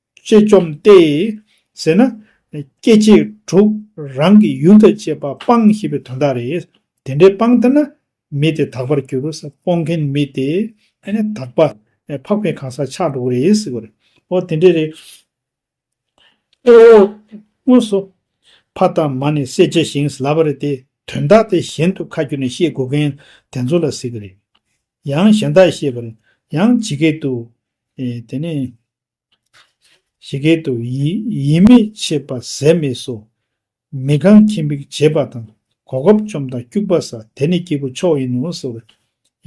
S1: ཅེས་བཅོམ་སྟེ། ཟེར་ན། སྐྱེ་མཆེད་དྲུག་རང་གི་ཡུལ་དང་བཅས་པ་སྤང་ཞེས་པའི་དོན་དག་རེད། དེ་འདྲའི་སྤང་ལྟར་ན། མི་དེ་དག་པར་འགྱུར། སྤོང་མཁན་མི་དེ། དག་པ། འཕགས་པའི་གང་ཟག་ཆགས་འགྲོ་བོ་རེད་ཟེར་བ་རེད། ཨོ་དེ་འདྲས་རེད། དངོས་སུ། ཕ་དང་མ་ནི་བསད་བྱས་ཤིང་ཟླ་བ་རེད་དེ། དོན་དག་དེ་གཞན་དུ་ཁ་བསྒྱུར་ནས་བཤད་དགོས་མཁན་དེ་ཚོ་ལ་ཟེར་གི་རེད། ཡང་གཞན་དག་བཤད་པར། ཡང་ཇི་སྐད་དུ། དེ་ནས། ཞི་གེ་དུ། ཡིད་མི་ཆེས་པ་ཟས་མེད་སོ། མི་གང་ཁྱིམ་བིག་བྱེད་པ་དང། གོ་སྐབས་བཅོམ་དང་སྐྱུག་པ་ཟ། དེ་ནི་སྐྱེས་བུ་མཆོག་ཡིན་ནོ་ཟེར་བས།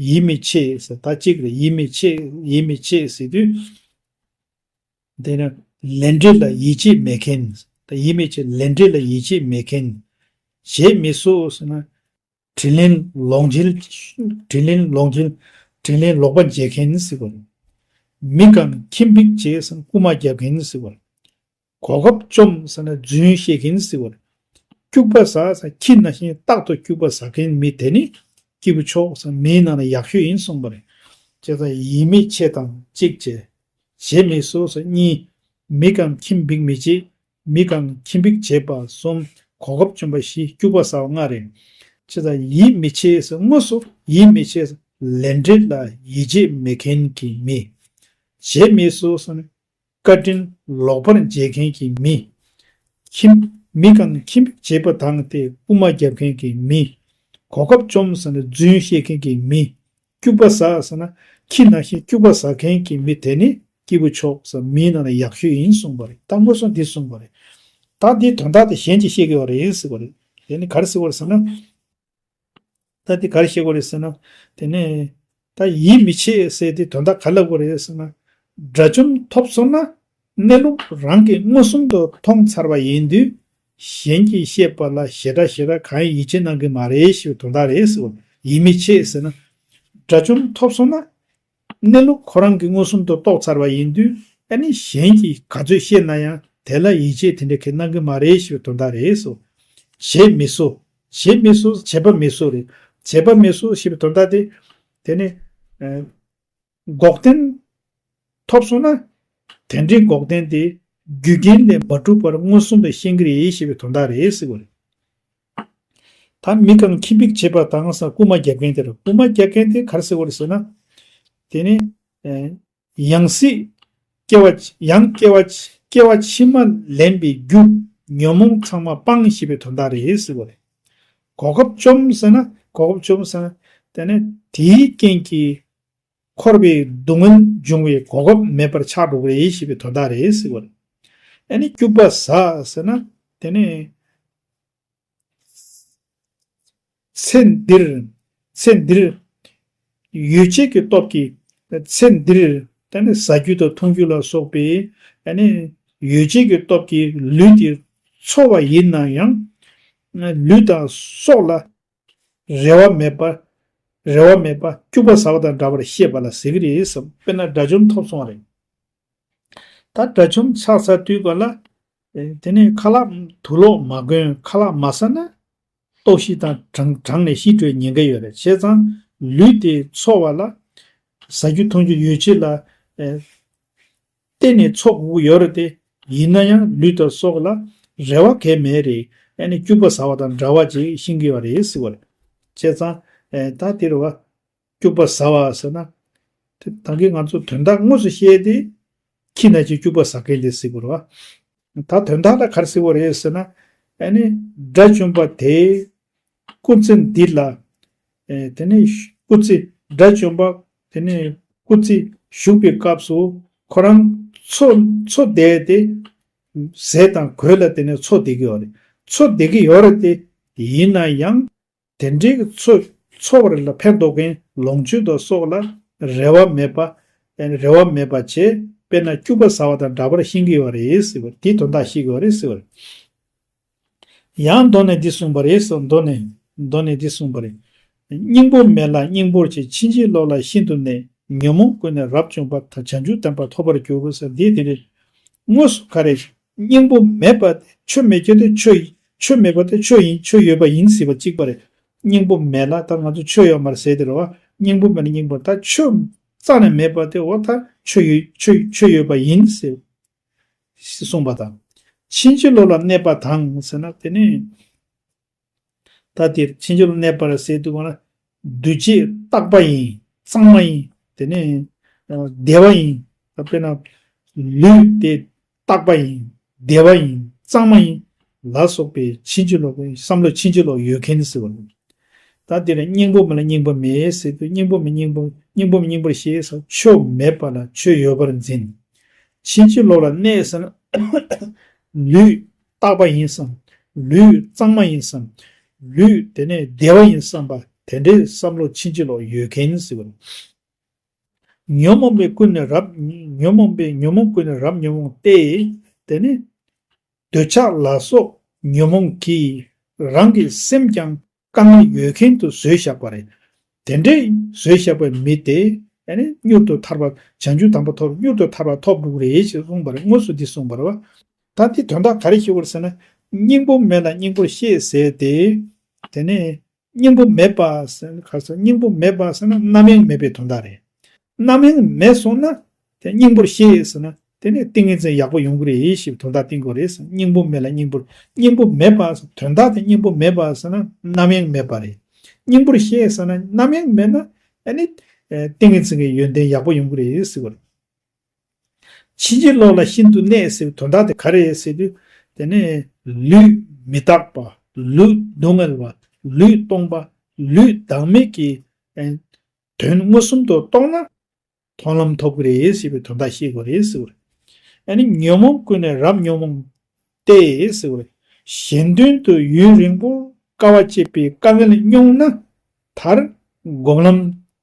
S1: ཡིད་མི་ཆེས་ཟེར་ད་གཅིག་རེད་ཡིད་མི་ཆེས་ཡིད་མི་ཆེས་ཟེར་དུས། དེ་ནི་ལས་འབྲས་ལ་ཡིད་ཆེས་མེད་མཁན། ཡིད་མི་ཆེས་ལས་འབྲས་ལ་ཡིད་ཆེས་མེད་མཁན། བྱེད་མི་སོ་ཟེར་ན། དྲིན་ལན་ལོག་འཇལ། དྲིན་ལན་ལོག་འཇལ། དྲིན་ལན་ལོག་པ་འཇལ་མཁན་ནི་སྲིད་པ་རེད། མི་དགའ་ན་ཁྱིམ་ཕིག་བྱས་ཟེར་ན་རྐུ་མ་རྒྱབ་མཁན་ནི་སྲིད་པ་རེད། གོ་སྐབས་བཅོམ་ཟེར་ན་རྫུན་བཤད་མཁན་ནི་སྲིད་པ་རེད། སྐྱུག་པ་ཟ་ཟེར་ན་ཁྱི་ན་ཤིང་རྟག་ཏུ་སྐྱུག་པ་ཟ་མཁན་མི་དེ་ནི་སྐྱིད་པོ་ཆོག་ཟེར་ན་མིའི་ནང་ན་ཡག་ཤོས་ཡིན་གསུངས་པ་རེད། ཅེས་དང། ཡིད་མི་ཆེས་དང་གཅིག་བྱས། བྱེད་མི་བཟོ་ཟེར་གཉིས། མི་དགའ་ན་ཁྱིམ་ཕིག་མི་བྱེད། མི་གང་ཁྱིམ་འབིགས་བྱེད་པ་གསུམ། གོ་སྐབས་བཅུ་འབའ་ཞིག་སྐྱུག་པ་ཟ་བ་ལྔ་རེ། ཅི་ལ་ཡིད་མི་ཆེས་དངོས་སུ་ཡིད་མི་ཆེས། ལས་འབྲས་ལ་ཡིད་ཆེས་མི་མཁན་གྱི་མི། བྱེད་མི་སོ་སོ་ནི། བཀའ་དྲིན་ལོག་པར་འཇལ་མཁན་གྱི་མི། ཁྱིམ། མི་གང་ཁྱིམ་འབིགས་བྱེད་པ་དང་སྟེ་དབུ་མ་རྒྱབ་མཁན་གྱི་མི། གོ་སྐབས་བཅོམ་ཟ་ནི་རྫུན་བཤད་མཁན་གྱི་མི། སྐྱུག་པ་ཟ་ཟེར་ན་ཁྱི་ནང་བཞིན་སྐྱུག་པ་ཟ་མཁན་གྱི་མི་དེ་ནི་སྐྱིད་པོ་མཆོག་ཟེར་མིའི་ནང་ལ་ཡག་ཤོས་ཡིན་གསུངས་པ་རེད་ད་དངོས་ཟོང་འདི་གསུངས་པ་རེད་ད་འདིའི་དོན་དག་དེ་གཞན་གྱིས་ཤེས་དགོས་པ་རེད་ཟེར་བ་རེད་དེ་ནི་ག་རེ་ཟེར་བ་རེད་ཟེར་ན། ད་འདི་ག་རེ་བཤད་དགོས་རེད་ཟེར་ན། དེ་ནས། ད་ཡིད་མི་ཆེས་ཟེར་དེ་དོན་དག་ག་ལ་དགོས་རེད་ཟེར་ན། དགྲ་བཅོམ་ཐོབ་སོང་ན་གནས་ལུགས་རང་གིས་མངོན་སུམ་དུ་མཐོང་ཚར་བ་ཡིན་དུས་གཞན་གྱིས་བཤད་པ་ལ་ཞེ་དྲག་ཞེ་དྲག་གང་ཡང་ཡིད་ཆེས་གནང་གི་མ་རེད་ཞེས་པའི་དོན་དག་རེད་ཟེར་བ་ཡིད་མི་ཆེས་ཟེར་ན། དགྲ་བཅོམ་ཐོབ་སོང་ན། གནས་ལུགས་ཁོ་རང་གིས་མངོན་སུམ་དུ་རྟོགས་ཚར་བ་ཡིན་དུས་ཨ་ནི་གཞན་གྱིས་ག་ཚོད་བཤད་ན་ཡང་དེ་ལ་ཡིད་ཆེས་དེ་འདྲ་གིས་གནང་གི་མ་རེད་ཞེས་པའི་དོན་དག་རེད་ཟེར་བ། བྱེད་མི་གསོ། བྱེད་མི་གསོ་ཟེར་བྱེད་པ་མི་གསོ་རེད། བྱེད་པ་མི་གསོ་ཞེས་པའི་དོན་དག་དེ། དེ་ནི། འགོག་བདེན། ཐོབ་སོང་ན། དེ་འདྲའི་འགོག་བདེན་དེ་རྒྱུ་རྐྱེན་ལས་མ་གྲུབ་པར་མངོན་སུམ་དུ་ཤེས་ཀྱི་རེད་ཞེས་པའི་དོན་དག་རེད་ཟེར་དགོས་རེད། ད་མི་གང་ཁྱིམ་འབིག་བྱེད་པ་དང་ས་རྐུ་མ་རྒྱག་མཁན་དེ་ར་རྐུ་མ་རྒྱག་མཁན་དེ་གར་ཟེར་དགོས་རེད་ཟེར་ན། དེ་ནི། ཡང་སྲིད། སྐྱེ་བ། ཡང་སྐྱེ་བ། སྐྱེ་བ་ཕྱི་མ་ལེན་པའི་རྒྱུ། ཉོན་མོངས་ཚང་མ་སྤངས་ཞེས་པའི་དོན་དག་རེད་ཟེར་དགོས་རེད། གོ་སྐབས་བཅོམ་ཟེར་ན། གོ་སྐབས་བཅོམ་ཟེར་ན། དེ་ནི་དེའི་རྐྱེན་གྱིས་འཁོར་བའི་སྡུག་བསྔལ་འབྱུང་བའི་གོ་སྐབས་མེད་པར་ཆགས་འགྲོ་གི་རེད་ཞེས་པའི་དོན་དག་རེད་ཟེར་བ་རེད། ཨ་ནི་སྐྱུག་པ་ཟ་ཟེར་ན་དེ་ནི། ཚེ་འདིར། ཚེ་འདིར། ཡོད་བྱད་ཀྱི་སྟོབས་ཀྱིས། ཚེ་འདིར། ད་ནི་ཟ་རྒྱུ་དང་འཐུང་རྒྱུ་ལ་སོགས་པའི། ཨ་ནི། ཡོད་བྱད་ཀྱི་སྟོབས་ཀྱིས་ལུས་དེ་འཚོ་བ་ཡིན་ན་ཡང། ལུས་དང་སྲོག་ལ་རེ་བ་མེད་པ། རེ་བ་མེད་པ། སྐྱུག་པ་ཟ་བ་དང་འདྲ་བར་ཤེས་པ་ལ་ཟེར་གྱི་རེད་བསམ། དཔེར་ན་དགྲ་བཅོམ་ཐོབ་སོང་བ་རེད། ད་དགྲ་བཅོམ་ཆགས་ཚར་དུས་གོ་ལ། དེ་ནས་ཁ་ལག་དུག་ལོག་མ་གོན་ཁ་ལག་མ་ཟ་ན། ལྟོགས་ཤི་དང་གྲང་ནས་ཤི་འགྲོའི་ཉེན་ཁ་ཡོད་རེད་བྱས་ཙང། ལུས་དེ་འཚོ་བ་ལ། ཟ་རྒྱུ་འཐུང་རྒྱུ་ཡོད་ཕྱིར་ལ། གཏན་ནས་ཚོགས་དབུགས་ཡོད་རེད་དེ། ཡིན་ན་ཡང་ལུས་དང་སྲོག་ལ་རེ་བ་གས་མེད་རེད་ཨ་ནི་སྐྱུག་པ་ཟ་བ་དང་འདྲ་བ་ཅིག་ཤིང་གི་བ་རེད་ཟེར་བ་རེད། བྱས་ཙང་ད་དེར་བ། སྐྱུག་པ་ཟ་བ་ཟེར་ན། དེ་ད་གིན་ང་ཚོ་དོན་དག་དངོས་སུ་ཤེས་ཏེ། ཁྱི་ན་ཅིག་སྐྱུག་པ་ཟ་མཁན་དེ་ཟེར་བ་རེད་བ། ད་དོན་དག་ལ་གར་ཟེར་བ་རེད་ཟེར་ན། ཨ་ནི་དགྲ་བཅོམ་པ་དེས། སྐུ་ཚེ་འདི་ལ། དེ་ནས། སྐུ་ཚེ། དགྲ་བཅོམ་པ། དེ་ནས། སྐུ་ཚེ། བཞུགས་པའི་སྐབས་སུ། ཁོ་རང། འཚོ། འཚོ་བསྡད་དེ། ཟས་དང་གོས་ལ་དེ་ནས་འཚོ་བསྡད་ཀྱི་ཡོད་རེད། འཚོ་བསྡད་ཀྱི་ཡོད་རེད་དེ། ཡིན་ན་ཡང། དེ་འདྲའི་གི་འཚོ། འཚོ་བ་རེ་ལ་ཕན་འདོགས་མཁན་ལོངས་སྤྱོད་དང་སོགས་ལ། རེ་བ་མེད་པ། རེ་བ་མེད་པ་བྱས། དཔེར་ན་སྐྱུགས་པ་ཟ་བ་དང་འདྲ་པར་ཤེས་ཀྱི་ཡོད་རེད། དེའི་དོན་དག་ཤེས་ཀྱི་ཡོད་རེད། ཡང་མདོ་ནས་འདི་གསུངས་པ་རེད་སོགས་མདོ་ནས་མདོ་ནས་འདི་གསུངས་པ་རེད། སྙིང་པོ་མེད་ལ་སྙིང་པོར་བྱས་ཕྱིན་ཅི་ལོག་ལ་ཤིན་ཏུ་གནས་ཉོན་མོངས་ཀུན་ནས་རབ་བཅོམ་པ་དང་བྱང་ཆུབ་དམ་པ་ཐོབ་པར་འགྱུར་ས་འདི་དེ་རེད། དངོས་སུ་ག་རེ། སྙིང་པོ་མེད་པ་དེ་ཆོས་མེད་ཀྱི་དེ་ཆོས་ཡིན་ཆོས་མེད་པ་དེ་ཆོས་ཡིན་ཆོས་ཡོད་པ་ཡིན་སྲིད་པ་གཅིག་པ་རེད། སྙིང་པོ་མེད་ལ་ད་ང་ཚོ་ཆོས་ཡོད་མར་ཟེར་དེ་རེད་བ། སྙིང་པོ་མེད་ལ་སྙིང་པོར་ད་ཆོས་རྩ་ནས་མེད་པ་དེ་འོ་ད་ཆོས་ཡོད་ཆོས་ཡོད་པ་ཡིན་ཟེར་ཞེས་གསུངས་པ་དང། ཕྱིན་ཅི་ལོག་ལ་གནས་པ་དང་ཟེར་ན་དེ་ནི། ད་འདིར་ཕྱིན་ཅི་ལོག་ལ་གནས་པར་ཟེར་དུ་བ་ན། འདུས་བྱས་རྟག་པ་ཡིན་གཙང་མ་ཡིན་དེ་ནི། བདེ་བ་ཡིན་དཔེར་ན། ལུས་དེ་རྟག་པ་ཡིན་བདེ་བ་ཡིན་གཙང་མ་ཡིན་ལ་སོགས་པའི་ཕྱིན་ཅི་ལོག་གིས་བསམ་བློ་ཕྱིན་ཅི་ལོག་ཡོད་མཁན་ཟེར་བ་ལ། ད་འདིར་སྙིང་པོ་མེད་ལ་སྙིང་པོ་མེད་ཟེར་དུས་སྙིང་པོ་མེད་སྙིང་པོ་སྙིང་པོ་མེད་སྙིང་པོར་ཤེས་ས་ཆོས་མེད་པ་ལ་ཆོས་ཡོད་པར་འཛིན། ཕྱིན་ཅི་ལོག་ལ་གནས་ཟེར་ན། ལུས་རྟག་པ་ཡིན་བསམ། ལུས་གཙང་མ་ཡིན་བསམ། ལུས་དེ་ནས་བདེ་བ་ཡིན་བསམ་པ་དེ་འདྲའི་བསམ་བློ་ཕྱིན་ཅི་ལོག་ཡོད་མཁན་ཟེར་བ་ལ། ཉོན་མོངས་པའི་ཀུན་ནས་རབ་ཉོན་མོངས་པའི་ཉོན་མོངས་ཀུན་ནས་རབ་ཉོན་མོངས་ཏེ། དེ་ནས། འདོད་ཆགས་ལ་སོགས་ཉོན་མོངས་ཀྱིས་རང་གི་སེམས་ཀྱང་དཀའ་ངལ་ཡོད་མཁན་དུ་བཟོས་བཞག་པ་རེད། དེ་འདྲའི་བཟོས་བཞག་པའི་མི་དེ་མྱུར་དུ་ཐར་པ་བྱང་ཆུབ་དམ་པ་ཐོབ་མྱུར་དུ་ཐར་པ་ཐོབ་འགྲོ་གི་རེད་ཅེས་གསུངས་པ་རེད་དངོས་སུ་འདི་གསུངས་པ་རེད་བ། ད་འདིས་དོན་དག་ག་རེ་ཤེས་དགོས་ཟེར་ན་སྙིང་པོ་མེད་ལ་སྙིང་པོར་ཤེས་ཟེར་ཏེ། དེ་ནས་སྙིང་པོ་མེད་པ་ཟེར་ན་ག་ཟེར་སྙིང་པོ་མེད་པ་ཟེར་ན་རྣམ་གཡེང་མེད་པའི་དོན་དག་རེད། རྣམ་གཡེང་མེད་སོང་ན་དེ་སྙིང་པོར་ཤེས་ཡོད་ཟེར་ན་དེ་ནས་ཏིང་ངེ་འཛིན་ཡག་པོ་ཡོང་གི་རེད་ཞེས་དོན་དག་བསྟན་དགོས་རེད་ཟེར་སྙིང་པོ་མེད་ལ་སྙིང་པོར་སྙིང་པོ་མེད་པ་ཟེར་དོན་དག་དེ་སྙིང་པོ་མེད་པ་ཟེར་ན་རྣམ་གཡེང་མེད་པ་རེད། སྙིང་པོར་ཤེས་ཟེར་ན་རྣམ་གཡེང་མེད་ན་དེ་ནས་ཏིང་ངེ་འཛིན་གྱི་ཡོན་ཏན་ཡག་པོ་ཡོང་གི་རེད་ཟེར་བ་རེད། ཕྱིན་ཅི་ལོག་ལ་ཤིན་ཏུ་གནས་ཟེར་བའི་དོན་དག་དེ་ག་རེད་ཟེར་དུས། དེ་ནི། ལུས་མི་རྟག་པ། ལུས་སྡུག་བསྔལ་བ། ལུས་སྟོང་པ། ལུས་བདག་མེད་ཀྱི། དོན་མངོན་སུམ་དུ་རྟོགས་ན། མཐོང་ལམ་ཐོབ་གི་རེད་ཟེར་བའི་དོན་དག་ཤེས་དགོས་རེད་ཟེར་བ་རེད། ནི་ཉོན་མོངས་ཀུན་ནས་རབ་ཉོན་མོངས། ཏེ། ཟེར་བ་རེད། གཞན་དོན་དུ་ཡུན་རིང་པོར་དཀའ་བ་སྤྱད་པའི་དཀའ་ངལ་སྙོགས་ན། མཐར། སྒོམ་ལམ།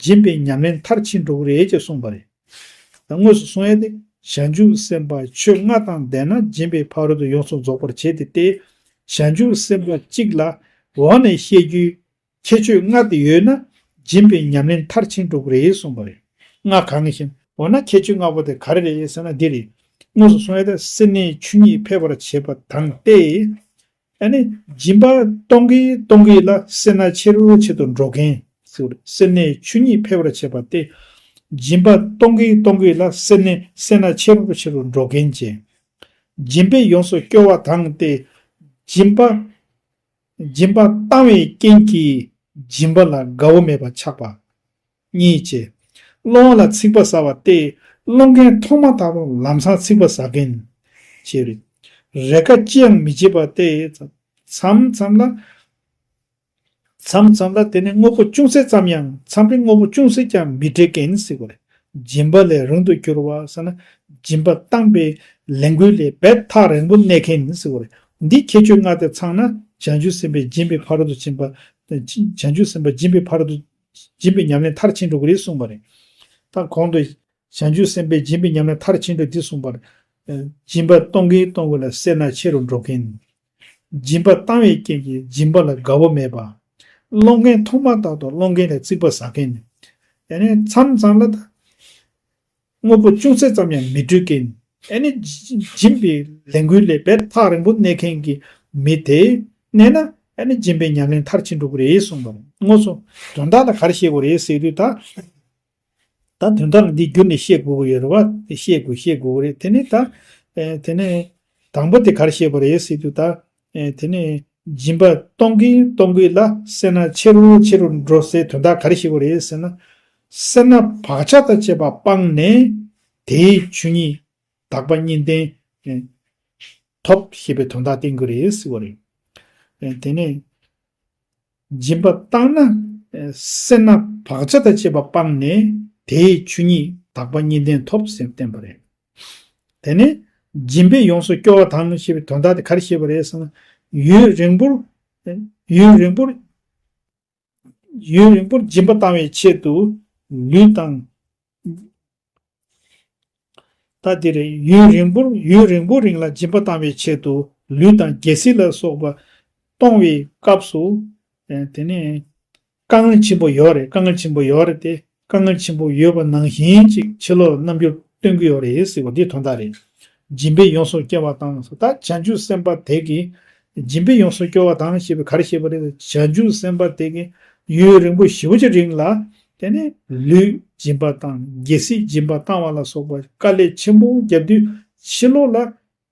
S1: སྦྱིན་པའི་ཉམས་ལེན་མཐར་ཕྱིན་འགྲོ་གི་རེད་ཅེས་གསུངས་པ་རེད། དངོས་སུ་གསུངས་ཡས་ཏེ་ཞལ་འཇུག་སེམས་དཔའ་ཆོས་ལྔ་དང་ལྡན་ན་སྦྱིན་པའི་ཕ་རོལ་ཏུ་ཡོངས་སུ་རྫོགས་པར་བྱེད་དེ་སྟེ། ཞལ་འཇུག་སེམས་དཔའ་གཅིག་ལ་འོག་ནས་བཤད་རྒྱུའི་ཁྱད་ཆོས་ལྔ་དེ་ཡོད་ན་སྦྱིན་པའི་ཉམས་ལེན་མཐར་ཕྱིན་འགྲོ་གི་རེད་གསུངས་པ་རེད། ལྔ་གང་བཞིན། འོ་ན་ཁྱད་ཆོས་ལྔ་པོ་དེ་ག་རེ་རེད་ཟེར་ན་འདི་རེད། དངོས་སུ་གསུངས་ཡས་ཏེ་སེར་སྣའི་ཆོས་ཉིད་འཕེལ་བར་བྱེད་པ་དང་སྟེ། ཨ་ནི་སྦྱིན་པ་གཏོང་གིན་གཏོང་གིན་ལ་སེར་སྣ་ཆེ་རུ་ཆེད་དུ་འགྲོ་གིན། སེར་སྣའི་ཆོས་ཉིད་འཕེལ་བར་བྱེད་པ་སྟེ། སྦྱིན་པ་གཏོང་གིན་གཏོང་གིན་ལ་སེར་སྣའི་སེར་སྣ་ཆེ་རུ་ཆེ་རུ་འགྲོ་གིན་ཅིང། སྦྱིན་པས་ཡོངས་སུ་སྐྱོ་བ་དང་སྟེ། སྦྱིན་པ། སྦྱིན་པ་བཏང་བའི་རྐྱེན་གྱིས་སྦྱིན་པ་ལ་དགའ་བོ་མེད་པར་ཆགས་པ། གཉིས་བྱེད། སློང་བ་ལ་ཚིག་པ་ཟ་བ་སྟེ། སློང་མཁན་ཐོག་མ་དང་པོ་ལམ་སང་ཚིག་པ་ཟ་མཁན། ཞེས་རིག། རེས་འགའ་ཅིའང་མི་བྱེད་པ་སྟེ། མཚམས་མཚམས་ལ། མཚམས་མཚམས་ལ་དེ་ནི་དངོས་པོ་ཅུང་ཟད་ཙམ་ཡང་མཚམས་རེ་དངོས་པོ་ཅུང་ཟད་ཀྱང་མི་འབྲེལ་མཁན་ཟེར་བ་རེད། སྦྱིན་པ་ལས་རུང་དུ་གྱུར་བ་ཟེར་ན། སྦྱིན་པ་བཏང་པའི་ལས་འགུལ་ལས་འབད་ཐག་རིང་པོ་གནས་མཁན་ཟེར་བ་རེད། འདིའི་ཁྱད་ཆོས་ལྔ་དེ་ཚང་ན་བྱང་ཆུབ་སེམས་དཔའ་སྦྱིན་པའི་ཕ་རོལ་ཏུ་ཕྱིན་པ། བྱང་ཆུབ་སེམས་དཔའ་སྦྱིན་པའི་ཕ་རོལ་ཏུ། སྦྱིན་པའི་ཉམས་ལེན་མཐར་ཕྱིན་དྲུག་རེ་གསུངས་པ་རེད། དང་གོང་དུ། བྱང་ཆུབ་སེམས་དཔའི་སྦྱིན་པའི་ཉམས་ལེན་མཐར་ཕྱིན་དྲུག་འདི་གསུངས་པར། སྦྱིན་པ་གཏོང་གིན་གཏོང་དགོས་ལ་སེར་སྣ་ཆེ་རུ་འགྲོ་མཁན། སྦྱིན་པ་བཏང་བའི་རྐྱེན་གྱིས་སྦྱིན་པ་ལ་དགའ་བོ་མེད་པ། སློང་མཁན་མཐོང་མ་ཐག་ཏུ་སློང་མཁན་ལས་རྩིག་པ་ཟ་མཁན། ཡང་ན་མཚམས་མཚམས་ལ། དངོས་པོ་ཅུང་ཟད་ཙམ་ཡང་མི་སྤྲུལ་གྱིས། ཨེ་ནི། སྦྱིན་པའི་ལས་འགུལ་ལས་བེར་ཐག་རིང་པོ་གནས་མཁན་གྱི་མི་དེས་གནས་ན། ཨེ་ནི་སྦྱིན་པའི་ཉམས་ལེན་མཐར་ཕྱིན་འགྲོ་གི་རེད་གསུངས་པར་དངོས་སུ། དོན་དག་ལ་ག་རེ་བཤད་དགོས་རེད་ཟེར་དུས། ད་ད་དོན་དག་ལ་འདི་བསྒྱུར་ནས་བཤད་དགོས་ཀྱི་ཡོད་རེད་བ། དེ་བཤད་དགོས་བཤད་དགོས་ཀྱི་རེད་དེ་ནི་ད། དེ་ནི། དང་པོ་དེ་ག་རེ་བཤད་དགོས་རེད་ཟེར་དུས་ད། དེ་ནས་སྦྱིན་པ་གཏོང་གིན་གཏོང་གིན་ལ་སེར་སྣ་ཆེ་རུ་ཆེ་རུ་འགྲོ་སའི་དོན་དག་ག་རེ་ཞིག་གོ་རེད་ཟེར་ན། སེར་སྣ་བག་ཆགས་དང་བཅས་པ་སྤངས་ནས་དེའི་ཆོས་ཉིད་དག་པ་གཉིས་ལྡན། ཐོབ་ཞེས་པའི་དོན་དག་བསྟན་གྱི་རེད་ཟེར་བ་རེད། དེ་ནས་སྦྱིན་པ་བཏང་ན་སེར་སྣ་བག་ཆགས་དང་བཅས་པ་སྤངས་ནས་དེའི་ཆོས་ཉིད་དག་པ་གཉིས་ལྡན་ཐོབ་ཟེར་བསྟན་པ་རེད། དེ་ནས། སྦྱིན་པས་ཡོངས་སུ་སྐྱོ་བ་དང་ཞེས་པའི་དོན་དག་དེ་ག་རེ་བཤད་པ་རེད་བསམ་ན། ཡུན་རིང་པོར། ཡུན་རིང་པོར། ཡུན་རིང་པོར་སྦྱིན་པ་བཏང་བའི་ཆེད་དུ། ལུས་དང། ད་དེ་རེད། ཡུན་རིང་པོར་ཡུན་རིང་པོ་རིང་ལ་སྦྱིན་པ་བཏང་བའི་ཆེད་དུ། ལུས་དང་རྒྱལ་སྲིད་ལ་སོགས་པ། གཏོང་བའི་སྐབས་སུ། དེ་ནས། དཀའ་ངལ་ཆེན་པོ་ཡོད་རེད་དཀའ་ངལ་ཆེན་པོ་ཡོད་རེད་དེ་དཀའ་ངལ་ཆེན་པོ་ཡོད་པ་ནང་བཞིན་ཅིག་ཕྱི་ལོག་རྣམ་འགྱུར་སྟོན་གི་ཡོད་རེད་ཟེར་བ་འདི་དོན་དག་རེད། སྦྱིན་པས་ཡོངས་སུ་སྐྱེ་བ་དང་སོ་ད་བྱང་ཆུབ་སེམས་དཔའ་དེ་གི། སྦྱིན་པས་ཡོངས་སུ་སྐྱོ་བ་དང་ཞེས་པའི་གར་བཤད་པ་རེད་ད་བྱང་ཆུབ་སེམས་དཔའ་དེ་གི། ཡུན་རིང་པོ་བཞི་བོ་ཅི་རིང་ལ། དེ་ནས་ལུས་སྦྱིན་པ་དང་རྒྱལ་སྲིད་སྦྱིན་པ་བཏང་བ་ལ་སོགས་པ་དཀའ་ལས་ཆེན་པོ་བརྒྱབ་དུས་ཕྱི་ལོག་ལ།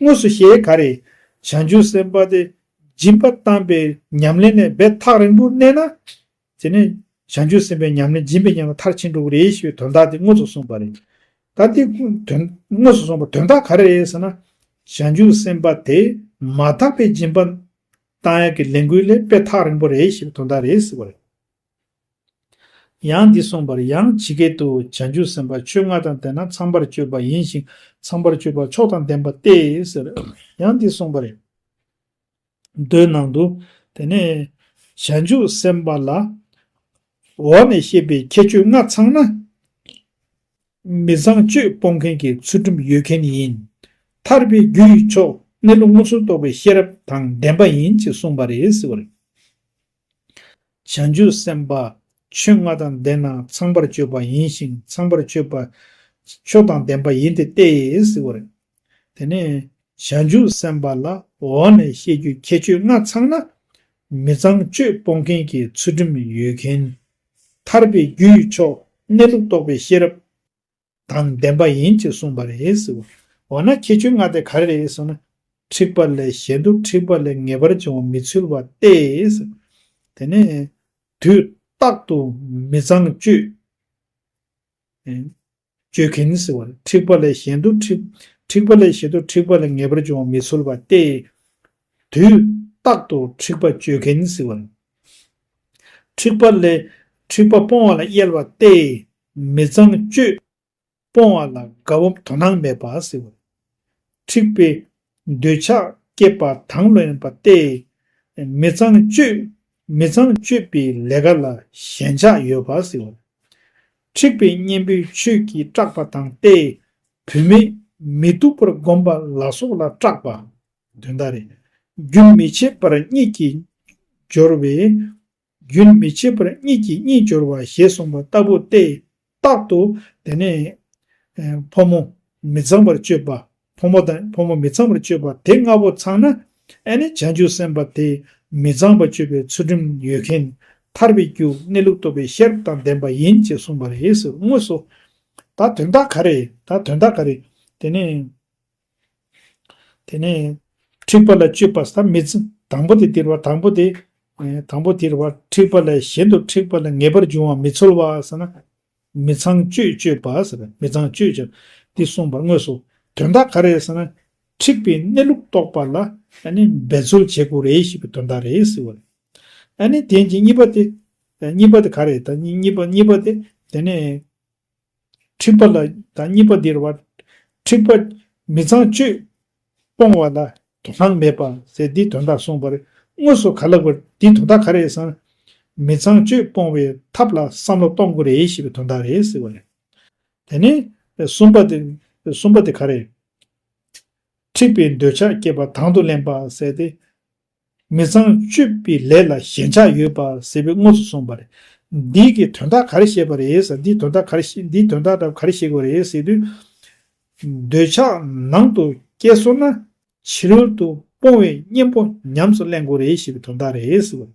S1: དངོས་སུ་ཞེས་ག་རེ། བྱང་ཆུབ་སེམས་དཔའ་དེ་སྦྱིན་པ་བཏང་པའི་ཉམས་ལེན་ལས་འབད་ཐག་རིང་པོར་གནས་ན། དེ་ནས་བྱང་ཆུབ་སེམས་དཔའི་ཉམས་ལེན་སྦྱིན་པའི་ཉམས་ལ་མཐར་ཕྱིན་འགྲོ་གི་རེད་ཞེས་པའི་དོན་དག་དེ་དངོས་སུ་གསུངས་པ་རེད། ད་དེ་དངོས་སུ་གསུངས་པ་དོན་དག་ག་རེ་རེད་ཟེར་ན། བྱང་ཆུབ་སེམས་དཔའ་དེ་མ་དག་པའི་སྦྱིན་པ་བཏང་ཡག་གི་ལས་འགུལ་ལས་འབད་ཐག་རིང་པོ་རེད་ཞེས་པའི་དོན་དག་རེད་ཟེར་བ་རེད། ཡང་འདི་གསུངས་པར་ཡང་ཇི་སྐད་དུ་བྱང་ཆུབ་སེམས་དཔའ་ཆོས་ལྔ་དང་ལྡན་ན་ཚངས་པར་སྤྱོད་པ་ཡིན་ཞིང་ཚངས་པར་སྤྱོད་པ་མཆོག་དང་ལྡན་པ་སྟེ་ཟེར། ཡང་འདི་གསུངས་པར། མདོའི་ནང་དུ། དེ་ནས་བྱང་ཆུབ་སེམས་དཔའ་ལ། འོག་ནས་བཤད་པའི་ཁྱད་ཆོས་ལྔ་ཚང་ན། མི་ཚངས་སྤྱོད་སྤོང་མཁན་གྱི་ཚུལ་ཁྲིམས་ཡོད་མཁན་ཡིན། ཐར་པའི་རྒྱུ་ཡི་མཆོག་གནས་ལུགས་མངོན་སུམ་རྟོགས་པའི་ཤེས་རབ་དང་ལྡན་པ་ཡིན་ཅེས་གསུངས་པ་རེད། བྱང་ཆུབ་སེམས་དཔའ་ཆོས་ལྔ་དང་ལྡན་ན་ཚངས་པར་སྤྱོད་པ་ཡིན་ཞིང་ཚངས་པར་སྤྱོད་པ་ཆོས་དང་ལྡན་པ་ཡིན་ཏེ་ཏེ་ཟེར་བ་རེད། དེ་ནས་བྱང་ཆུབ་སེམས་དཔའ་ལ་འོག་ནས་བཤད་རྒྱུའི་ཁྱད་ཆོས་ལྔ་ཚང་ན། མི་ཚངས་སྤྱོད་སྤོང་མཁན་གྱི་ཚུལ་ཁྲིམས་ཡོད་མཁན། ཐར་པའི་རྒྱུའི་མཆོག་གནས་ལུགས་རྟོགས་པའི་ཤེས་རབ། དང་ལྡན་པ་ཡིན་ཅེས་གསུངས་པ་རེད། འོ་ན་ཁྱད་ཆོས་ལྔ་དེ་ག་རེ་རེད་གསུངས་ན། འཁྲིག་པ་ལས་གཞན་དུ་འཁྲིག་པ་ལས་ངེས་པར་འབྱུང་བ་མི་ཚུལ་བ་སྟེ། དེ་ནས། དུས་རྟག་ཏུ་མི་ཚངས་སྤྱོད། སྤྱོད་གིན། འཁྲིག་པ་ལས་གཞན་དུ་འཁྲིག་པ་ལས་གཞན་དུ་འཁྲིག་པ་ལས་ངེས་པར་འབྱུང་བ་མི་ཚུལ་བ་སྟེ། དུས་རྟག་ཏུ་འཁྲིག་པ་སྤྱོད་གིན། འཁྲིག་པ་ལས་འཁྲིག་པ་སྤོང་བ་ལ་གཡེལ་བ་སྟེ། མི་ཚངས་སྤྱོད། སྤོང་བ་ལ་དགའ་བོ་དོ་སྣང་མེད་པ་ཟེར་བས། འཁྲིག་པའི། འདོད་ཆགས་བསྐྱེད་པ་དང་ལོན་པ་སྟེ། མི་ཚངས་སྤྱོད། མི་ཚངས་སྤྱོད་པའི་ལས་ཀ་ལ་ཞེན་ཆགས་ཡོད་པ་ཟེར་བས། འཁྲིག་པའི་གཉེན་པོའི་ཆོས་ཀྱིས་སྐྲག་པ་དང་སྟེ། བུད་མེད། མི་སྡུག་པར་བསྒོམ་པ་ལ་སོགས་ལ་སྐྲག་པ། དོན་དག་རེད། རྒྱུན་མི་འཆད་པར་གཉིད་ཀྱིས་སྦྱོར་བས། རྒྱུན་མི་འཆད་པར་གཉིས་ཀྱིས་གཉིས་སྦྱོར་བ་ཞེས་གསུངས་པ་ལྟ་བུ་སྟེ། རྟག་ཏུ་དེ་ནི། ཕོ་མོ་མི་ཚངས་པར་སྤྱོད་པ། ཕོ་མོ་དང་ཕོ་མོ་མི་ཚངས་པར་སྤྱོད་པ་དེ་ལྔ་པོ་ཚང་ན། ཨེ་ནི་བྱང་ཆུབ་སེམས་དཔའ་དེ་མི་ཚངས་པར་སྤྱོད་པའི་ཚུལ་ཁྲིམས་ཡོད་མཁན། ཐར་པའི་རྒྱུ་གནས་ལུགས་རྟོགས་པའི་ཤེས་རབ་དང་ལྡན་པ་ཡིན་ཅེས་གསུངས་པ་རེད་ཟེར་དངོས་སོ། ད་དོན་དག་ག་རེད་ད་དོན་དག་ག་རེད་དེ་ནི། དེ་ནས་འཁྲིག་པ་ལ་སྤྱོད་པ་ས་མི་ཚུལ་དང་པོ་དེ་དེར་བ་དང་པོ་དེ། དང་པོ་དེར་བར་འཁྲིག་པ་ལས་གཞན་དུ་འཁྲིག་པ་ལ་ངེས་པར་འབྱུང་བ་མི་ཚོལ་བ་ཟེར་ན། མི་ཚངས་སྤྱོད་སྤྱོད་པ་ཟེར་བས་མི་ཚངས་སྤྱོད་སྤྱོད་དེ་གསུངས་པར་དངོས་སུ་དོན་དག་ག་རེ་ཟེར་ན། འཁྲིག་པའི་གནས་ལུགས་རྟོགས་པ་ལ་ནི་འབད་རྩོལ་བྱེད་དགོས་རེད་ཞེས་པའི་དོན་དག་རེད་ཟེར་བ་རེད། ཨ་ནི་དེ་ནི་གཉིས་པ་དེ། གཉིས་པ་དེ་ག་རེད་ད་གཉིས་པ་གཉིས་པ་དེ་དེ་ནི། འཁྲིག་པ་ལ་དང་གཉིས་པ་འདིར་བར། འཁྲིག་པ། མི་ཚངས་སྤྱོད། སྤོང་བ་ལ། དོ་སྣང་མེད་པ། ཟེར་འདིའི་དོན་དག་གསུངས་པར། དངོས་སུ་ག་ལ་དགོས། འདིའི་དོན་དག་ག་རེད་བསམ། མི་ཚངས་སྤྱོད་སྤོང་བའི་ཐབས་ལ་བསམ་བློ་གཏོང་དགོས་རེད་ཞེས་པའི་དོན་དག་རེད་ཟེར་བ་རེད། དེ་ནས། གསུམ་པ་དེ། གསུམ་པ་དེ་ག་རེད། འཁྲིག་པའི་འདོད་ཆགས་སྐྱེས་པ་དང་དུ་ལེན་པ། ཟེར་ཏེ། མི་ཚངས་སྤྱོད་པའི་ལས་ལ་ཞེན་ཆགས་ཡོད་པ་ཟེར་བའི་དངོས་སུ་གསུངས་པ་རེད། འདི་གི་དོན་དག་ག་རེ་བཤད་པ་རེད་ཟེར་འདིའི་དོན་དག་ག་རེ་བཤད་འདིའི་དོན་དག་ག་རེ་བཤད་དགོས་རེད་ཟེར་དུས། འདོད་ཆགས་ནང་དུ་སྐྱེས་སོང་ན་ཕྱི་རོལ་དུ་སྤོང་བའི་གཉེན་པོ་ཉམས་སུ་གླེང་དགོས་རེད་ཞེས་པའི་དོན་དག་རེད་ཟེར་བ་རེད།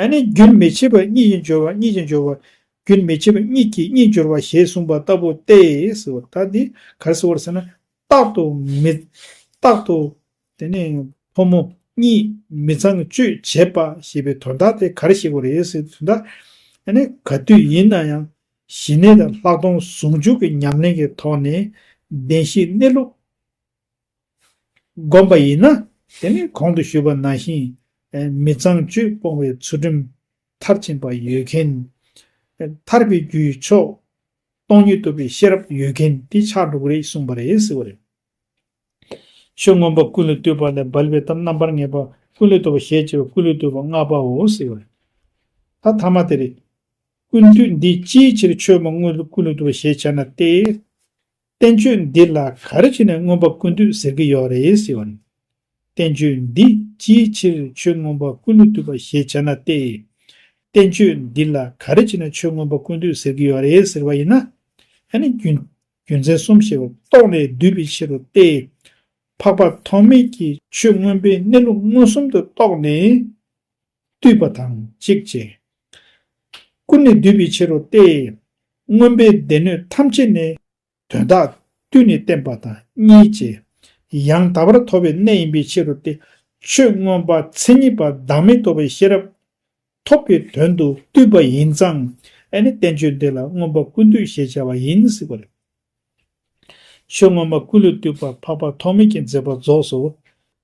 S1: ཨ་ནི་རྒྱུན་མི་འཆད་པ་གཉིས་ཀྱི་སྦྱོར་བ་གཉིས་ཀྱི་སྦྱོར་བ། རྒྱུན་མི་འཆད་པ་གཉིས་ཀྱི་གཉིས་སྦྱོར་བ་ཞེས་གསུངས་པ་ལྟ་བུ་སྟེ། ད་འདི་གར་སེལ་བར་བྱས་ན། རྟག་ཏུ་མི། རྟག་ཏུ། དེ་ནི། ཕོ་མོ། གཉིས། མི་ཚངས་སྤྱོད་བྱེད་པ་ཞེས་པའི་དོན་དག་དེ་གར་གཤེགས་པ་རེད་ཟེར་དུས་ད། ཨ་ནི་ག་དུས་ཡིན་ན་ཡང། ཞི་གནས་དང་ལྷག་མཐོང་ཟུང་འཇུག་གི་ཉམས་ལེན་གྱི་ཐོག་ནས། བདེན་བཞིའི་གནས་ལུགས། བསྒོམ་པ་ཡིན་ན་དེ་ནི་གོང་དུ་ཞུས་པ་ནང་བཞིན་མི་གཙང་བཅུད་སྤོང་བའི་ཚུལ་ཁྲིམས་མཐར་ཕྱིན་པ་ཡོད་མཁན། ཐར་པའི་རྒྱུའི་ཕྱོགས་སྟོང་ཉིད་ཐོབ་པའི་ཤེས་རབ་ཡོད་མཁན་དེ་ཕྱག་དྲུག་རེད་གསུངས་པ་རེད་ཟེར་བ་རེད། ཆོས་མངོན་པ་ཀུན་ལ་ལྟོས་པ་ལས་སྦལ་པའི་གཏམ་རྣམ་པར་ངེས་པ་ཀུན་ལ་ལྟོས་པ་ཞེས་བྱ་བ་ཀུན་ལ་ལྟོས་པ་ལྔ་པའོ་ཟེར་བ་རེད། ད་ཐ་མ་དེ་རེད། ཀུན་བཏུས་འདི་ཅིའི་ཕྱིར་ཆོས་མ་དངོས་ཀུན་ལ་ལྟོས་པ་ཞེས་བྱ་ན་སྟེ། བསྟན་བཅོས་འདི་ལ་ག་རེ་བྱས་ནས་མངོན་པ་ཀུན་བཏུས་ཟེར་གྱི་ཡོད་རེད་ཟེར་བ་རེད། བསྟན་བཅོས་འདི་ཅིའི་ཕྱིར་ཆོས་མངོན་པ་ཀུན་ལ་བཏུས་པ་ཞེས་བྱ་ན་སྟེ། བསྟན་བཅོས་འདི་ལ་ག་རེ་བྱས་ནས་ཆོས་མངོན་པ་ཀུན་བཏུས་ཟེར་གྱི་ཡོད་རེད་ཟེར་བ་ཡིན་ན། ཡང་ན་རྒྱུ་མཚན་གསུམ་ཞེས་པ་རྟོགས་ནས་བསྡུས་པའི་ཕྱིར་རོ་སྟེ། འཕགས་པ་ཐོགས་མེད་ཀྱིས་ཆོས་མངོན་པའི་གནས་ལུགས་མངོན་སུམ་དུ་རྟོགས་ནས། བཏུད་པ་དང་གཅིག་བཅས། ཀུན་ནས་བསྡུས་པའི་ཕྱིར་རོ་སྟེ། མངོན་པའི་སྡེ་སྣོད་ཐམས་ཅད་ནི། དོན་དག་བཏུད་ནས་བསྟན་པ་དང་གཉིས་བཅས། ཡང་དག་པར་ཐོབ་པའི་གནས་ཡིན་པའི་ཕྱིར་རོ་སྟེ། ཆོས་མངོན་པ་མཚན་ཉིད་པ་བདག་མེད་རྟོགས་པའི་ཤེས་རབ། ཐོབ་པའི་དོན་དུ་བཏུད་པ་ཡིན་ཙང། ཨེ་ནི་བསྟན་བཅོས་འདི་ལ་མངོན་པ་ཀུན་བཏུད་ཞེས་བྱ་བ་ཡིན་སྲིད་པ་ལས། ཆོས་མངོན་པ་ཀུན་ལས་བཏུས་པ་འཕགས་པ་ཐོགས་མེད་ཀྱིས་མཛད་པ་རྫོགས་སོ།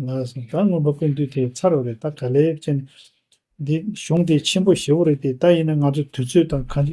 S1: བདག་མངོན་པ་ཀུན་འདུས་དེ་ཚར་བ་རེད་ད་ག་ལེ་ཅན། འདི་གཞུང་དེ་ཆེན་པོ་ཞེ་བོ་རེད་དེ་ད་ཡིན་ན་ང་ཚོ་དུས་ཚོད་དང་གང།